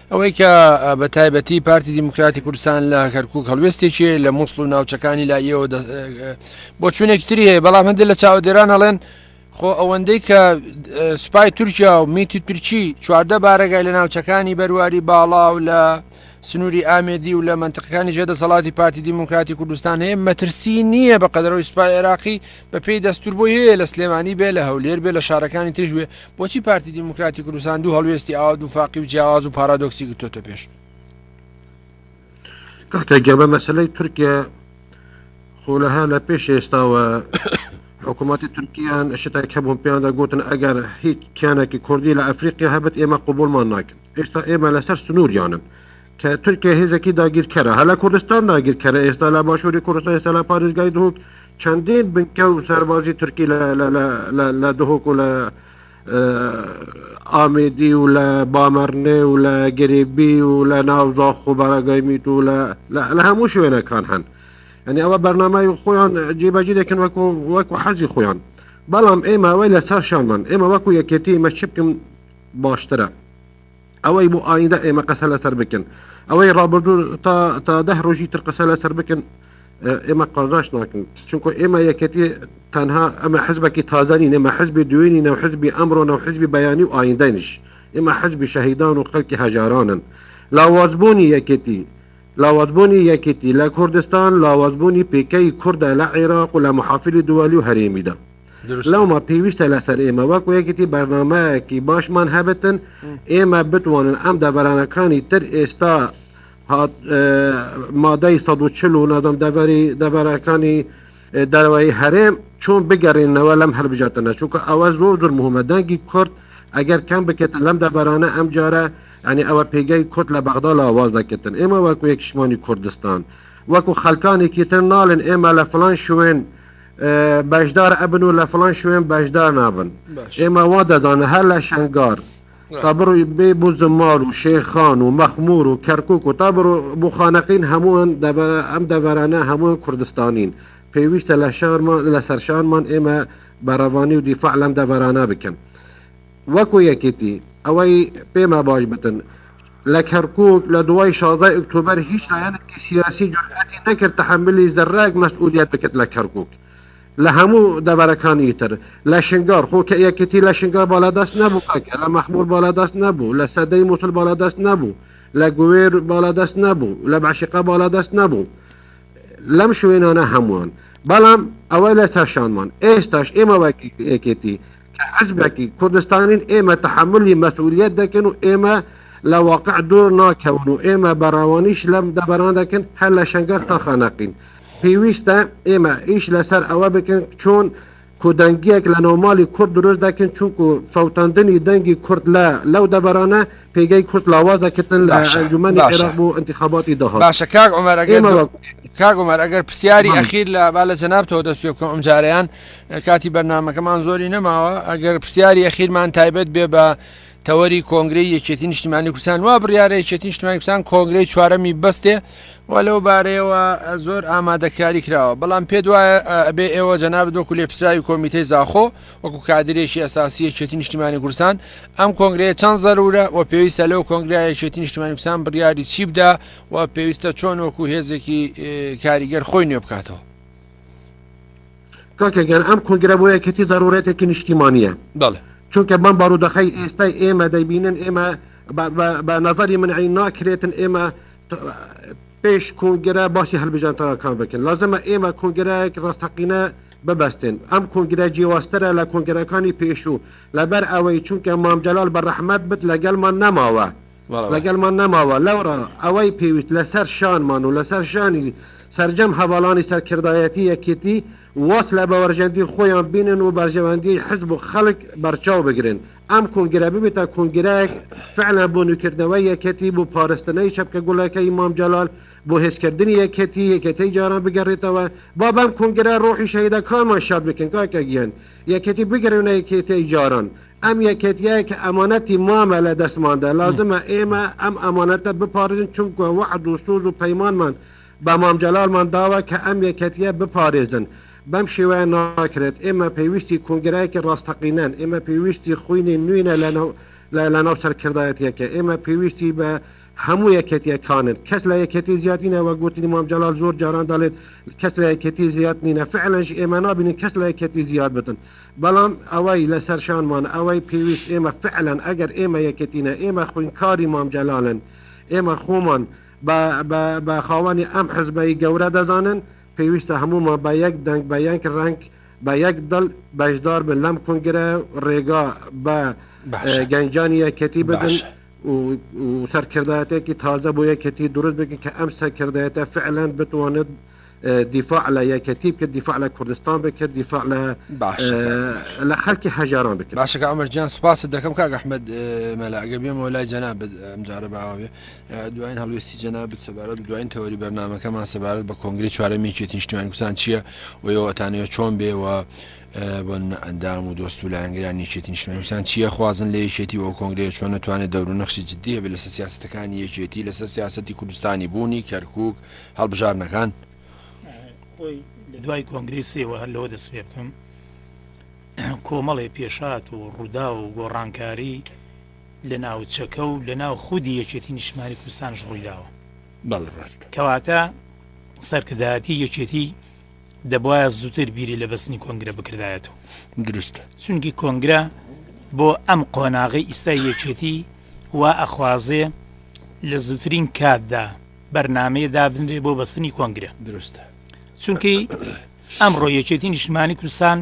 ئەوەی کە بە تایبەتی پارتی دیموکراتی کوردستان لە کەرکک هەڵوێستێکی لە مووسڵ و ناوچەکانی لایەوە بۆ چونێک تری هەیە بەڵام هەندێک لە چاودێران هەڵێن خۆ ئەوەندەی کە سوپای تورکیا و میتی تورکی چواردە بارەگای لە ناوچەکانی بەرواری باڵا و لە سنووری ئامێدی و لە منتقەکانی ژێدە سەڵاتی پارتی دیموکراتی کوردستان هەیە مەترسی نییە بە قەدەرەوەی سوپای عێراقی بەپێی دەستور بۆی هەیە لە سلێمانی بێ لە هەولێر بێ لە شارەکانی تریش بێ بۆچی پارتی دیموکراتی کوردستان دوو هەڵوێستی ئاوا دووفاقی و جیاواز و پارادۆکسی گرتۆتە پێش کاکە گەبە مەسلەی تورکیا خۆ لەها لە پێش ئێستاوە حکوومەتی تورکیان شتێک هەبوون پێیاندا گوتن ئەگەر هیچ کیانێکی کوردی لە ئەفریقیا هەبێت ئێمە قوبولمان ناکەن ئێستا ئێمە لەسەر سنووریانن کە تورکیا هێزێکی داگیرکەرە، هەر لە کوردستان داگیرکەرە، ئێستا لە باشووری کوردستان، ئێستا لە پارێزگای دهۆک چەندین بنکە و سەربازی تورکی لە دهۆک و لە ئامێدی و لە بامەرنێ و لە گرێبی و لە ناو زاخ و بەراگای میت و لە هەموو شوێنەکان هەن ئەنی ئەوە بەرنامای خۆیان جێبەجی دەکەن وەکو وەکو حەزی خۆیان بەڵام ئێمە ئەوەی لەسەر شانمان ئێمە وەکو یەکێتی مەچ بکەم باشترە ئەوەی بۆ ئایندە ئێمە قەسە لەسەر بکەن ئەوەی ڕابردوو تا تا دە ڕۆژی تر قەسە لەسەر بکەن ئێمە قازاش ناکەن چونکە ئێمە یەکەتی تەنها ئەمە حزبێکی تازانی نێمە حزبی دوێنی نەو حزبی ئەمڕۆ نەو حزبی بەیانی و ئایندەنیش ئێمە حزبی شەهیدان و خەلکی هەژارانن لاوازبوونی یەکێتی لاوازبوونی یەکێتی لە کوردستان لاوازبوونی پێکەی کووردە لە عێراق و لە محافلی دووەلی و هەرێمیدا دروستە. لەوما پێویستە لەسەر ئێمە وەک یەکێتی بەرنامەیەکی باشمان هەبێتن ئێمە بتوانن ئەم دەڤەرانەکانی تر ئێستا هات مادەی سەد و چل و نازم دەڤەری دەڤەرەکانی دەرەوەی هەرێم چۆن بگەڕێنەوە لەم هەلبژاتە نەچووکە ئەوە زۆر زۆر مهمە دەنگی کورد ئەگەر کەم بکێت لەم دەبارانە ئەم جارە ئەنی ئەوە پێگەی کورد لە بەغدا لاواز دەکردن ئێمە وەکو یەکشمانی کوردستان وەکو خەلکانێکی تر ناڵێن ئێمە لە فلان شوێن بەشدار ئەبن و لە فلان شوێن بەشدار نابن ئێمە وا دەزانە هەر لە شنگار تا بڕۆی بێ بۆ زمار و شێخان و مەخمور و کەرکک و تا بڕۆ بۆ خانەقین هەمووان ئەم دەبارانە هەمووان کوردستانین پێویستە لە شارمان لە سەرشانمان ئێمە بەڕەوانی و دیفاع لەم دەبارانە بکەن. وەکو یەکێتی ئەوەی پێما باش بتن لە کەرکوک لە دوای شازدە ئۆکتۆبەر هیچ لایەنێکی سیاسی جورئەتی نەکرد تەحەمولی زەرەک مەسئولیەت بکەت لە کەرکوک لە هەموو دەڤەرەکانی تر لە شنگار خۆ کە یەکێتی لە شنگار باڵادەست نەبوو کاکە لە مەخمور باڵادەست نەبوو لە سەدەی موسل باڵادەست نەبوو لە گوێر باڵادەست نەبوو لە بەعشقە باڵادەست نەبوو لەم شوێنانە هەمووان بەڵام ئەوە لە سەرشانمان ئێستاش ئێمە وەک یەکێتی کە حزبەکی کوردستانین ئێمە تەحەمولی مەسئولیەت دەکەین و ئێمە لە واقع دوور ناکەون و ئێمە بەڕەوانیش لەم دەڤەرانە دەکەن هەر لە شەنگەر تا خانەقین پێویستە ئێمە ئیش لەسەر ئەوە بکەن چۆن کودەنگیەک لە ناومالی کورد دروست دەکەن چونکو فەوتاندنی دەنگی کورد لە لەو دەڤەرانە پێگەی کورد لاواز دەکردن لە باشە، ئەنجومەنی باشە. عێراق بۆ انتخاباتی داهات باشە کاک عمر ئەگەر ئێمە دو- وەک کاک عمر ئەگەر پرسیاری بەڵێ. ئەخیر لە با لە جەنابتەوە دەست پێ بکەم ئەمجارەیان کاتی بەرنمەکەمان زۆری نەماوە ئەگەر پرسیاری ئەخیرمان تایبەت بێ بە تەوەری کۆنگری یەکێتی نیشتیمانی کوردستان وا بڕارە یەکێتی نیشتیمانی کوردستان کۆنگری چوارەمی بەستێ و لەو بارەیەوە زۆر ئامادەکاری کراوە بەڵام پێ وایە ئەبێ ئێوە جەناب دۆکو لێ پرسراوی کۆمیتەی زاخۆ وەکو کادرێکی ئەساسی یەکێتی نیشتیمانی کوردستان ئەم کۆنگرەیە چەند زەرورە و پێویستە لەو کۆنگرای یەکێتی نیشتیمانی کوردستان بڕیاری چی بدا و پێویستە چۆن وەکو هێزێکی کاریگەر خۆی نوێ بکاتەوە کاکە گەر ئەم کۆنگرە بۆ یەکەتی زەرورێتێکی نیشتیمانیە بەڵێ چونکە بەم بارودەخی ئێستای ئێمە دەبینن ئێمە بە نظری منعی ناکرێتن ئێمە پێش کۆنگرە باسی هەلبژانتەکان بکەن لازمە ئێمە کۆنگرایەک ڕاستەقینە ببەستێن ئەم کۆنگرە جیواسترە لە کۆنگرەکانی پێشوو لەبەر ئەوەی چونکە مامجلال بە ڕەحمەت بت لەگەلمان نەماوە لەگەڵمان نەماوە لەوڕا ئەوەی پێویست لەسەر شانمان و لەسەر شانی سەرجەم هەڤاڵانی سەرکردایەتی یەکێتی واز لە باوەرژەندی خۆیان بینن و بەرژەوەندیی حزب و خەڵک بەرچاو بگرن ئەم کۆنگرە ببێتە کۆنگرەیەک فعلا بۆ نوێکردنەوەی یەکێتی بۆ پارستنەی چەپکە گوڵەکەی مام جەلال بۆ هێزکردنی یەکێتی یەکێتی جاران بگەڕێتەوە با بەم کۆنگرە ڕۆحی شەهیدەکانمان شاد بکەین کاکە گیان یەکێتی بگەڕێونە یەکێتی جاران ئەم یەکێتییەیە کە ئەمانەتی مامە لە دەستماندا، لازمە ئێمە ئەم ئەمانەتە بپارێزین، چونکوە وەعد و سۆز و پەیمانمان بە مام جەلالمان داوە کە ئەم یەکێتییە بپارێزن. بەم شێوەیە ناکرێت. ئێمە پێویستی کۆنگرایەکی ڕاستەقینەن. ئێمە پێویستی خوینی نوینە لەناو لەناو سەرکردایەتییەکە. ئێمە پێویستی بە هەموو یەکێتییەکانن. کەس لە یەکێتی زیاد نینە، وەک گوتنی مام جەلال زۆر جاران دەڵێت کەس لە یەکێتی زیاد نینە. فعلەنش ئێمە نابینین کەس لە یەکێتی زیاد بتن. بەڵام ئەوەی لەسەر شانمان ئەوەی پێویست ئێمە فعلەن ئەگەر ئێمە یەکێتینە ئێمە خوینکاری مام جەلالن ئێمە خۆمان بە بە بە خاوەنی ئەم حزبەی گەورە دەزانن پێویستە هەموومان بە یەک دەنگ بە یەک رەنگ بە یەک دڵ بەشدار بن لەم کونگرە و رێگا بە باشە گەنجانی یەکێتی بدەن باشە و و سەرکردایەتێکی تازە بۆ یەکێتی دروست بکەن کە ئەم سەرکردایەتە فعلەن بتوانێت دیفاع لە یەکەتی بکە دیفاع لە کوردستان بکە دیفاع لە لە خەلکی هەژاران بکە باشەکە ئەمەر جیان سپاست دەکەم کاک ئەحمد مەلا ئەگە بێمەوە لای جەناب ئەمجارە باوێ دوایین هەڵوێستی جەناب سەبارەت دوایین تەوەری بەرنمەکەمان سەبارەت بە کۆنگری چوارەمی چێتی نیشتیمان کوسان چییە وەوەتانەوە چۆن بێەوە بۆ ئەندام و دۆست و لایەنگران یەکێتی نیشتمانسان چیە خوازن لە یەکێتی و کۆنگرەیە چۆن نتوانێت دەور و نەخشی جددیە بە لەسەر سیاستەکانی یەکێتی لەسەر سیاستی کوردستانی بوونی کەرکک هەڵبژاردنەکان. خۆی لە دوای کۆنگرەی سێوە هەر لەوە دەست پێ بکەم کۆمەڵێ پێشات و ڕوودا و گۆڕانکاری لە ناوچەکە و لە ناو خودی یەکێتی نیشمانی کوردستان ژڕی داوە بەڵڕاست کەواتە سەرکردایەتی یەکێتی دەبواە زووتر بیری لە بەستنی کۆنگرە بکردایەت و درستە چونکی کۆنگرە بۆ ئەم قۆناغی ئیستا یەکێتی وا ئەخوازێ لە زووترین کاتدا بەرنامەیە دابنرێت بۆ بەستنی کۆنگرە دروستە چونکەی ئەمڕۆ یەکێتی نیشتمانی کوردستان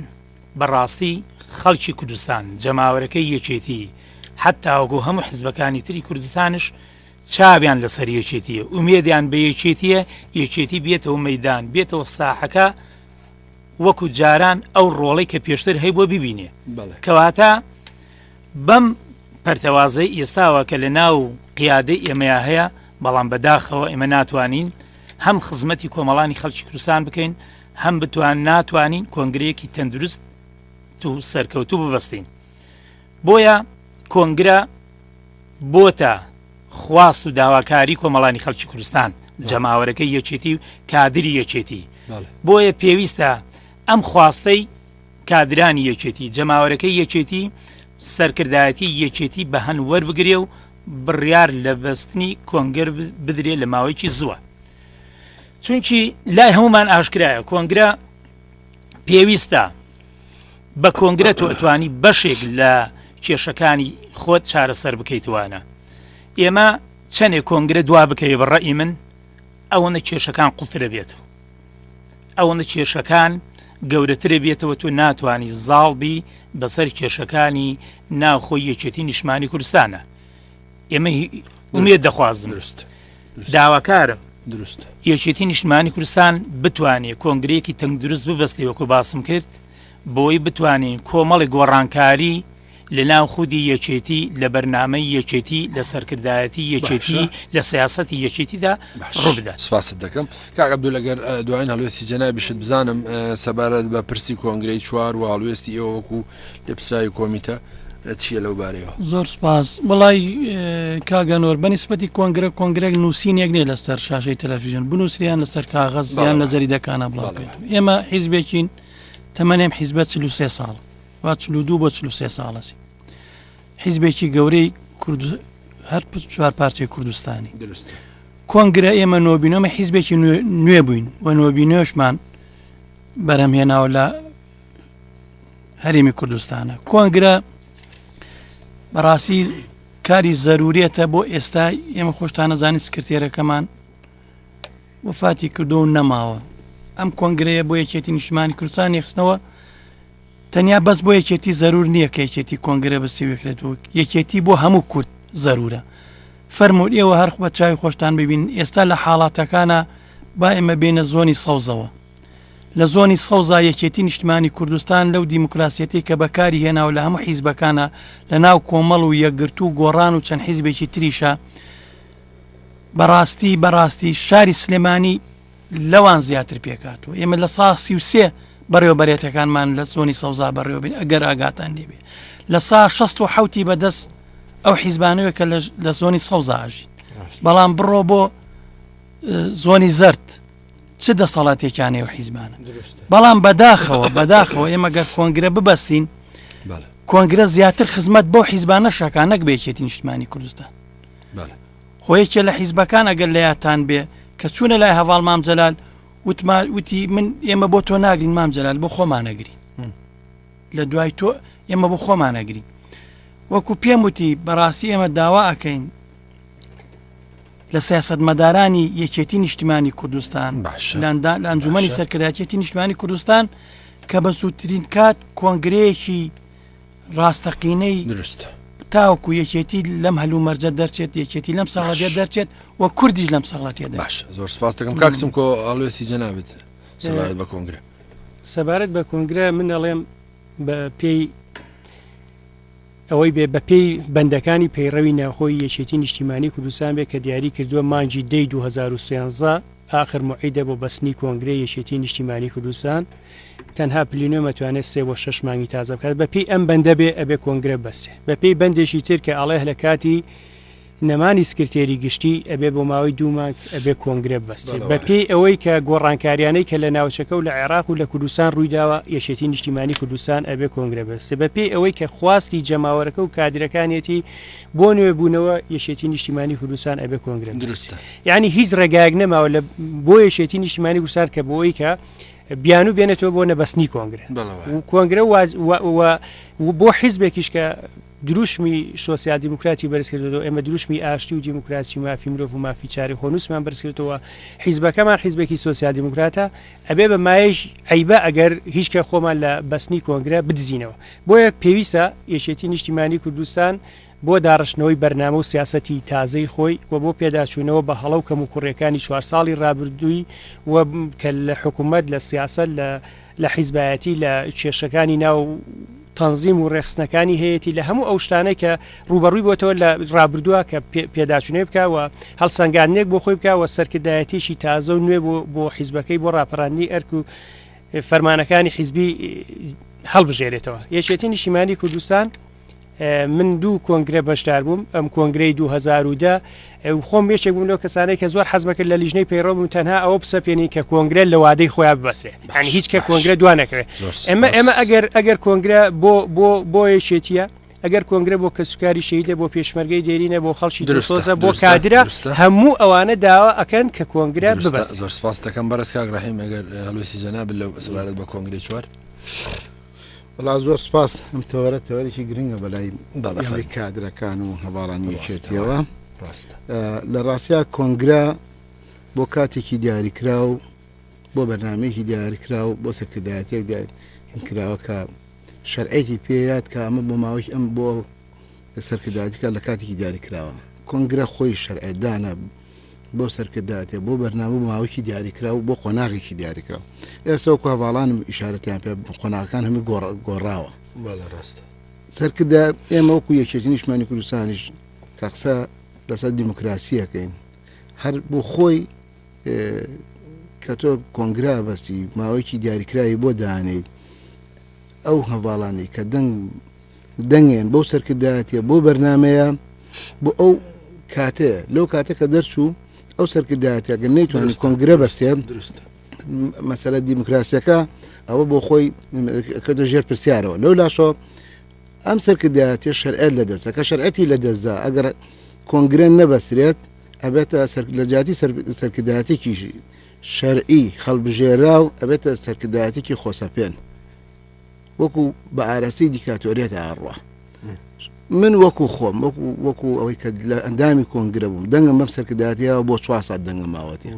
بەڕاستی خەڵکی کوردستان جەماوەرەکەی یەکێتی حتاوەگو هەموو حزبەکانی تری کوردستانش چاویان لەسەر یەکێتیە ئومێدیان بە یەکێتیە یەکێتی بێتەوە مەدان بێتەوە ساحەکە وەکو جاران ئەو ڕۆڵی کە پێشتر هەیبووە ببینێ کەواتە بەم پەرتەوازەی ئێستاوە کە لە ناو قیادەی ئێمەیا هەیە، بەڵام بە داخەوە ئێمە ناتوانین هەم خزمەتی کۆمەڵانی خەڵکی کوردستان بکەین، هەم بتوان ناتوانین کۆنگرەیەکی تەندروست و سەرکەوتوو ببەستین. بۆیە کۆنگرە بۆتە خواست و داواکاری کۆمەڵانی خەڵکی کوردستان، جەماوەرەکەی یەکێتی و کادری یەکێتی. بۆیە پێویستە ئەم خواستەی کادرانی یەکێتی، جەماوەرەکەی یەکێتی سەرکردایەتی یەکێتی بە هەند وەربگرێ و بڕیار لە بەستنی کۆنگرە بدرێ لە ماوەیەکی زووە. چونکی لای هەموومان ئاشکرایە کۆنگرە پێویستە، بە کۆنگرە تۆ ئەتوانی بەشێک لە کێشەکانی خۆت چارەسەر بکەیتوانە ئێمە چەنێ کۆنگرە دوا بکەوێ بە ڕەئی من ئەوەنە کێشەکان قوڵترە بێتەوە. ئەوەندە کێشەکان گەورەترە بێتەوە تۆ ناتوانانی زاڵ بی بەسەر کێشەکانی ناوخۆی یەکێتی نیشمانی کوردستانە ئێمە ئومێت دەخوازم درست داواکارم دروست یەکێتی نیشتمانی کوردستان بتوانێت کۆنگرێکی تەنگ دروست ببستێ وەکو باسم کرد بۆی بتوانین کۆمەڵی گۆڕانکاری لەناو خودی یەکێتی، لە بەرنامەی یەکێتی، لە سەرکردایەتی یەکێتی، لە سیاسەتی یەکێتیدا ڕووبدات. سپاست دەکەم کاک عەبدول، ئەگەر دواین هەڵوێستی جەنابیشت بزانم سەبارەت بە پرسی کۆنگرەی چوار و هەڵوێستی ئێوە وەکو لێپرسراوی کۆمیتە چییە لەو بارەیەوە؟ زۆر سپاس، وەڵای کاک ئەنوەر بە نیسبەتی کۆنگرە کۆنگرێک نووسینێک نییە لەسەر شاشەی تەلەفیزیۆن بنووسریان لەسەر کاغەز یان لە جەریدەکانە بڵاو بێت، ئێمە حیزبێکین تەمەنێم حیزبە چل و سێ ساڵ. وا چل و دوو بۆ چل و سێ ساڵەس حیزبێکی گەورەی کورد هەر پ- چوار پارچەی کوردستانی دروست کۆنگرە ئێمە نۆبینەمە حیزبێکی نوێ- نوێ بووین و نۆبینێشمان بەرهەمهێناوە لە هەرێمی کوردستانە کۆنگرە بەڕاستی کاری زەرورێتە بۆ ئێستا ئێمە خۆشتانەزانی سکرتێرەکەمان وفاتی کردو و نەماوە ئەم کۆنگرەیە بۆ یەکێتی نیشتمانی کوردستان یخستنەوە تەنیا بەس بۆ یەکێتی زەرور نییە کە یەکێتی کۆنگرە بەسی وکرێت و یەکێتی بۆ هەموو کورد زەرورە فەرموور ئێوە هەرخ بە چاوی خۆشتان ببین ئێستا لە حاڵاتەکانە با ئێمە بینە زۆنی سەوزەوە لە زۆنی سەوزا یەکێتی نیشتمانی کوردستان لەو دیموکراسیەتی کە بەکاری هێناوە لە هەموو حیزبەکانە لە ناو کۆمەڵ و یەکگرت و گۆڕان و چەند حیزبێکی تریشە بەڕاستی بەڕاستی شاری سلێمانی لەوان زیاتر پێکاتوە ئێمە لە سا سی و سێ بەڕێوە بەرێتەکانمان لە زۆنی سەوزا بەڕێوەبین ئەگەر ئاگاتان لێبێ لە سا 16 و حوتی بەدەست ئەو حیزبانەوە کە لە زۆنی سەوزا ئاژین بەڵام بڕۆ بۆ زۆنی زرد چ دەسەڵاتێکیانەیە و حیزبانە بەڵام بەداخەوە بەداخەوە ئێمە گەر کۆنگرە ببەستین کۆنگرە زیاتر خزمەت بۆ حیزبانە شەکانەک بێکێتی نیشتمانی کوردستان خۆ یەکێ لە حیزبەکان ئەگەر لە یادتان بێ کە چوونە لای هەواڵ مام جەلال وتمان وتی من ئێمە بۆ تۆ ناگرین مام جەلال بۆ خۆمانەگری لە دوای تۆ ئێمە بۆ خۆمانەگری وەکو پێم وتی بەڕاستی ئێمە داوا ئەکەین لە سیاست مەدارانی یەکێتی نیشتمانی کوردستان باشلاندا لە ئەنجومی سەرکردایەتی نیشتمانی کوردستان کە بە سووترین کات کۆنگرەیەکی ڕاستەقینەی دروست تاوکو یەکێتی لەم هەلومەرجە دەرچێت یەکێتی لەم ساڵەتێ دەرچێت و کوردیش لەم ساڵەتێ باش زۆر سپاس دەکەم کاکسم کۆ ئەڵێسی جەنابێت سەبارەت بە کۆنگرە سەبارەت بە کۆنگرە من ئەڵێم بە پێی ئەوەی بێ بەپێی بەندەکانی پەیڕەوی ناوخۆی یەکێتی نیشتیمانی کوردستان بێ کە دیاری کردووە مانجی دەی 2013 ئاخر موعیدە بۆ بەستنی کۆنگرەی یەکێتی نیشتیمانی کوردستان تەنها پلینۆم ئەتوانێت سێ بۆ شەش مانگی تازە بکات بە پێی ئەم بەندە بێ ئەبێ کۆنگرە بەسرێ بە پێی بەندێکی تر کە ئەڵێه لە کاتی نەمانی سکرتێری گشتی ئەبێ بۆ ماوەی دوو مانگ ئەبێ کۆنگرە بەستێ بە پێی ئەوەی کە گۆڕانکاریانەی کە لە ناوچەکە و لە عێراق و لە کوردستان ڕوویداوە یەکێتی نیشتیمانی کوردستان ئەبێ کۆنگرە بەستێ بە پێی ئەوەی کە خواستی جەماوەرەکە و کادرەکانێتی بۆ نوێ بوونەوە یەشێتی نیشتیمانی کوردستان ئەبێ کۆنگرە دروستە یعنی هیچ ڕێگایەک نەماوە لە بۆ یەشێتی نیشتیمانی گوسار کە بۆی کە بیانو بێنێتەوە بۆ نەبەستنی کۆنگرە کۆنگرە بۆ حیزبێکیش کە دروشمی سوسیال دیموکراتی بەرزکردەوە ئێمە دروشمی ئاشتی و دیموکراسی مافی مرۆڤ و مافی چاری خۆنووسمان بەرزکردەوە حیزبەکەمان حیزبێکی سوسیال دیموکراتە ئەبێ بە مایش عیبە ئەگەر هیچکە خۆمان لە بەستنی کۆنگرە بدزینەوە بۆیە پێویستە یەکێتی نیشتیمانی کوردستان بۆ داڕشتنەوەی بەرنامە و سیاسەتی تازەی خۆی و بۆ پێداچوونەوە بە هەڵە و کەموکوڕیەکانی چوار ساڵی ڕابردووی و کە لە حکومەت، لە سیاسەت، لە حیزبایەتی، لە کێشەکانی ناو. تەنزیم و ڕێکخستنەکانی هەیەتی، لە هەموو ئەو شتانەی کە ڕووبەڕووی بۆتەوە لە ڕابردووە کە پێداچوونەوەی بکا و هەڵسەنگاندنێک بۆ خۆی بکا و سەرکردایەتیەکی تازە و نوێ بۆ حیزبەکەی بۆ ڕاپەڕاندنی ئەرک و فەرمانەکانی حیزبی هەڵبژێرێتەوە یەکێتی نیشیمانی کوردستان من دوو کۆنگرە بەشدار بووم ئەم کۆنگرەی 2010 خۆم بێچێک بوون لەو کەسانەی کە زۆر حەزمەکرد لە لیژنەی پەیڕۆم و تەنها ئەوە بسەپێنین کە کۆنگرە لە وادەی خۆیان ببەسێ هەن هیچ کە کۆنگرە دوانەکەوێت ئەمە ئەمە ئەگەر ئەگەر کۆنگرە بۆ بۆ بۆ یەکێتیە ئەگەر کۆنگرە بۆ کەسوکاری شەهیدە بۆ پێشمەرگەی دێرینە بۆ خەڵکی دڵسۆزە بۆ کادرە هەموو ئەوانە داوا ئەکەن کە کۆنگرە ببەست زۆر سپاس دەکەم بەرز کاک ڕحیم ئەگەر هەلوسی جەناب لە سەبارەت بە کۆنگری چوار وڵا زۆر سپاس ئەم تەوەرە تەوەرێکی گرنگە بەلای بەڵی کادرەکان و هەواڵانی یەکێتیەوە لە ڕاستیا کۆنگرا بۆ کاتێکی دیاریکرا و بۆ بەرنمەیەکی دیارکرا و بۆ سەکردایەتێک دیارکراوە کە شەرعێکی پێ یات کە ئەمە بۆ ماوەی ئەم بۆ سەرکردایەتی بکات لە کاتێکی دیاریکراوە کۆنگرە خۆی شەرعێ دانە بۆ سەرکردایەتێ بۆ بەرنامە ماوەیەکی دیاریکرا و بۆ قۆناغێکی دیاریکرا ئێستا و کاڤاڵانم ئیشارەتیان پێ قۆناغەکان هەمی گۆڕاوە ڕاستە سەرکردە ئێمە وەکو یەکێتی نیشمانی کوردستانیش کە قسە لەسەر دیموکراسیەکەین هەر بۆ خۆی کە تۆ کۆنگرە بەستی ماوەیەکی دیاریکراوی بۆ دانیت ئەو هەڤاڵانی کە دەنگ دەنگێن بەو سەرکردایەتە بۆ بەرنمەیە بۆ ئەو کاتەیە لەو کاتە کە دەرچوو ئەو سەرکردایەتەگە نەیتوان کۆنگرە بەستێ درست مەسەلە دیموکراسیەکە ئەوە بۆ خۆی کردە ژێر پرسیارەوە لەو لاشەوە ئەم سەرکردایەتی شەرعەت لە دەستە کە شەرعەتی لە دەستدا ئەگەر کۆنگرە نەبەسرێت ئەبێتە سەر لە جیاتی سەرکردایەتێکی شەرعی هەڵبژێراو ئەبێتە سەرکردایەتێکی خۆسەپێن وەکو بە ئارەستی دیکتاتۆریێت ئاڕوە من وەکو خۆم وەکو وەکو ئەوەی کە لە ئەندامی کۆنگرە بووم دەنگم بەم سەرکردایەتەوە بۆ چوار ساعت دەنگە ماوەتی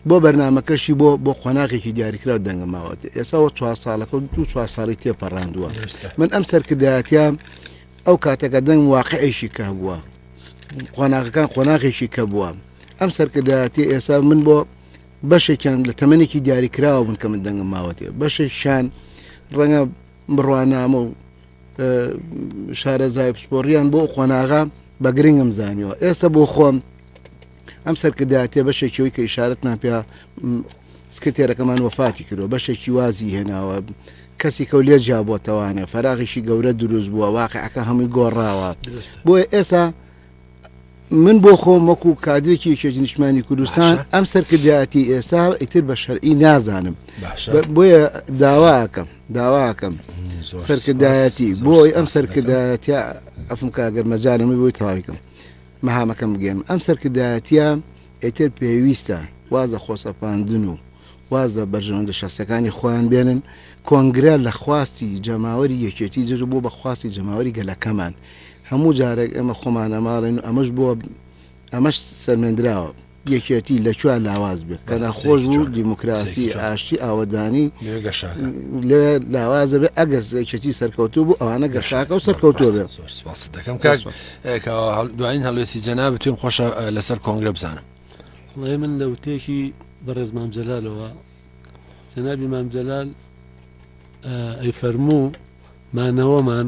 بۆ بەرنمەکەشی بۆ بۆ قۆناغێکی دیاریکرا دەنگە ماوەتی ئێساەوە چوار ساڵەکە و دو چوار ساڵی تێپەڕاندووە من ئەم سەرکردایەتە ئەو کاتەکە دەنگ واقعێکی کە هەبووە قۆناغەکان قۆناغێکی کە بووە ئەم سەرکردایەتی ئێستا من بۆ بەشێکیان لە تەمەێکی دیاریکراوە بن کە من دەنگم ماوەتێ بەشێکیان ڕەنگە بڕوانامە و شارەزای پسپۆڕیان بۆ قۆناغا بە گرنگم زانیوە ئێستا بۆ خۆم ئەم سەرکردایەتیە بەشێکی ئەوەی کە ئیشارەتمان پێ سکرتێرەکەمان وەفاتی کردوە بەشێکی وازی هێناوە کەسیکە و لێ جیابەتەوانە فەراغیشی گەورە دروست بووە واقعەکە هەمووی گۆڕاوە بۆیە ئێسا من بۆ خۆم وەکو کادرێکی یەکێتی نیشمانی کوردستان ئەم سەرکردایەتی ئێستا ئیتر بە شەرعی نازانم بۆیە داواکەم داواکەم سەرکردایەتی بۆی ئەم سەرکردایەتی ئەفم کاگەر مەجارمی بۆی تاویکەم مەهامەکەم بگەیەنم. ئەم سەرکردایەتییە ئیتر پێویستە واز لە خۆسەپاندن و واز لە بەرژەوەندە شەخسییەکانی خۆیان بێنن. کۆنگرە لە خواستی جەماوەری یەکێتی جێژ بووە بە خواستی جەماوەری گەلەکەمان. هەموو جارێک ئێمە خۆمان ئەماڵێن و ئەمەش بووە، ئەمەش سەلمێندراوە. یەکێتی لە کوێ لاواز بێت کە ناخۆش بوو دیموکراسی ئاشتی ئاوەدانی لەوێ لاوازە بێ ئەگەر یەکێتی سەرکەوتو بوو ئەوانە گەشاکە و سەرکەوتو بێت دەکەم دوایین هەڵوێستی جەنا بتوێن خۆشە لەسەر کۆنگرە بزانم ڵێ من لە وتێکی بەڕێز مامجلالەوە جەنابی مامجلال ئەی فەرموو مانەوەمان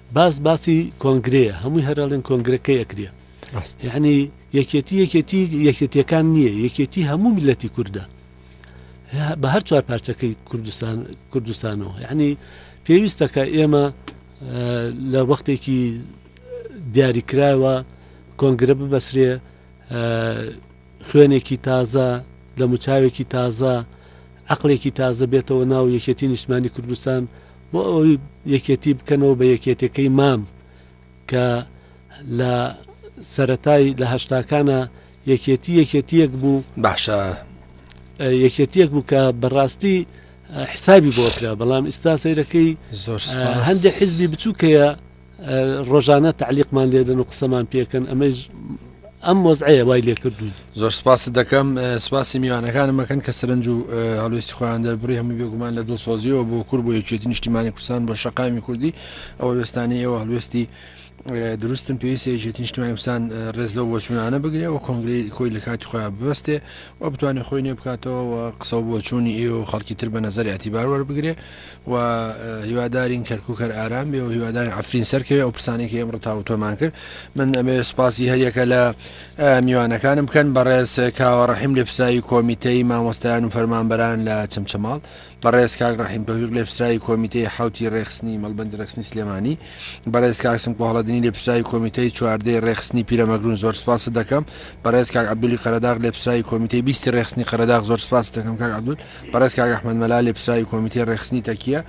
باس باسی کۆنگرەیە هەمووی هەرەڵێن کۆنگرە کەی ئەکرێ یعنی یەکێتی یەکێتی یەکێتیەکان نییە یەکێتی هەموو میلەتی کووردە بە هەر چوار پارچەکەی کوردستان کوردستانەوە یعنی پێویستەکە ئێمە لە وەختێکی دیاریکراوە کۆنگرە ببەسرێ خوێنێکی تازە، دەموچاوێکی تازە، عەقڵێکی تازە بێتەوە ناو یەکێتی نیشتمانی کوردستان بۆ ئەوەی یەکێتی بکەنەوە بە یەکێتەکەی مام کە لە سەرەتای لە هەشتاکانا یەکێتی یەکێتیەک بوو باشە یەکێتیەک بوو کە بەڕاستی حسابی بۆ کرا بەڵام ئیستا سەیرەکەی زۆر هەندێک حزبی بچووکەیە ڕۆژانە تعلیقمان لێدەن و قسەمان پێکەن ئەمەی ئەم مۆزعەیە وای لێ کردوون زۆر سپاس دەکەم سپاسی میوانەکانم مەکەن کە سەرنج و هەلوستی خۆیان دەربڕی هەموو بێگومان لە دڵسۆزیەوە بۆ کورد بۆ یەکێتی نیشتیمانی کوردستان بۆ شقامی کوردی ئەوە وێستانی ئێوە هەلوستی دروستم پێویست یەکێتی نیشتیمانی کوردستان ڕێز لەو بۆچوونانە بگرێ و کۆنگری کۆی لە کاتی خۆیان ببستێ و بتوانێت خۆی نێ بکاتەوە و قسە بۆچوونی ئێوە خەڵکی تر بە نظری ئەتیبار وەربگرێ و هیوادارین کەرکک هەر ئارام بێ و هیوادارین ئەفرین سەرکەوێ ئەو پرسانێکی ئێمڕ تاوتۆمان کرد من ئەمێ سپاسی هەریەکە لە میوانەکانم بکەن بەڕێز کاوە ڕحیم لە پسراوی کۆمیتەی مامۆستایان و فەرمانبەران لە چمچەماڵ بەڕێز کاک ڕحیم تۆفیق لە پسراوی کۆمیتەی حوتی ڕێخستنی مەڵبندی ڕێخستنی سلێمانی بەڕێز کاکسم کۆهڵەدنی لە پسراوی کۆمیتەی چواردەی ڕێخستنی پیرەمەگرون زۆر سپاس دەکەم بەڕێز کاک عبدولی قەرەداغ لە پسراوی کۆمیتەی بیستی ڕێخستنی قەرەداغ زۆر سپاس دەکەم کاک عبدول بەڕێز کاک ئەحمەد مەلا لێپسراوی کۆمیتەی ڕێکخستنی تەکیە،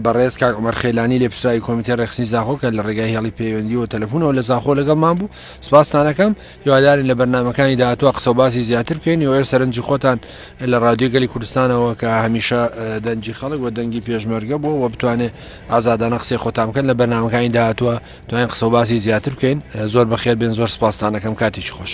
بەڕێز کاک عومەر خەیلانی لێپسراوی کۆمیتەی ڕێکخستنی زاخۆ کە لە ڕێگای هێڵی پەیوەندییەوە و تەلەفونەوە لە زاخۆ لەگەڵمان بوو، سپاستان ئەکەم، هیوادارین لە بەرنامەکانی داهاتووە قسە و باسی زیاتر بکەین، هیوای سەرنجی خۆتان لە ڕادیۆی گەلی کوردستانەوە کە هەمیشە دەنگی خەڵک و دەنگی پێشمەرگە بووە و بتوانێ ئازادانە قسەی خۆتان بکەن، لە بەرنامەکانی داهاتووە توانین قسە و باسی زیاتر بکەین، زۆر بەخێر بێن، زۆر سپاستان ئەکەم، کاتێکی خۆش.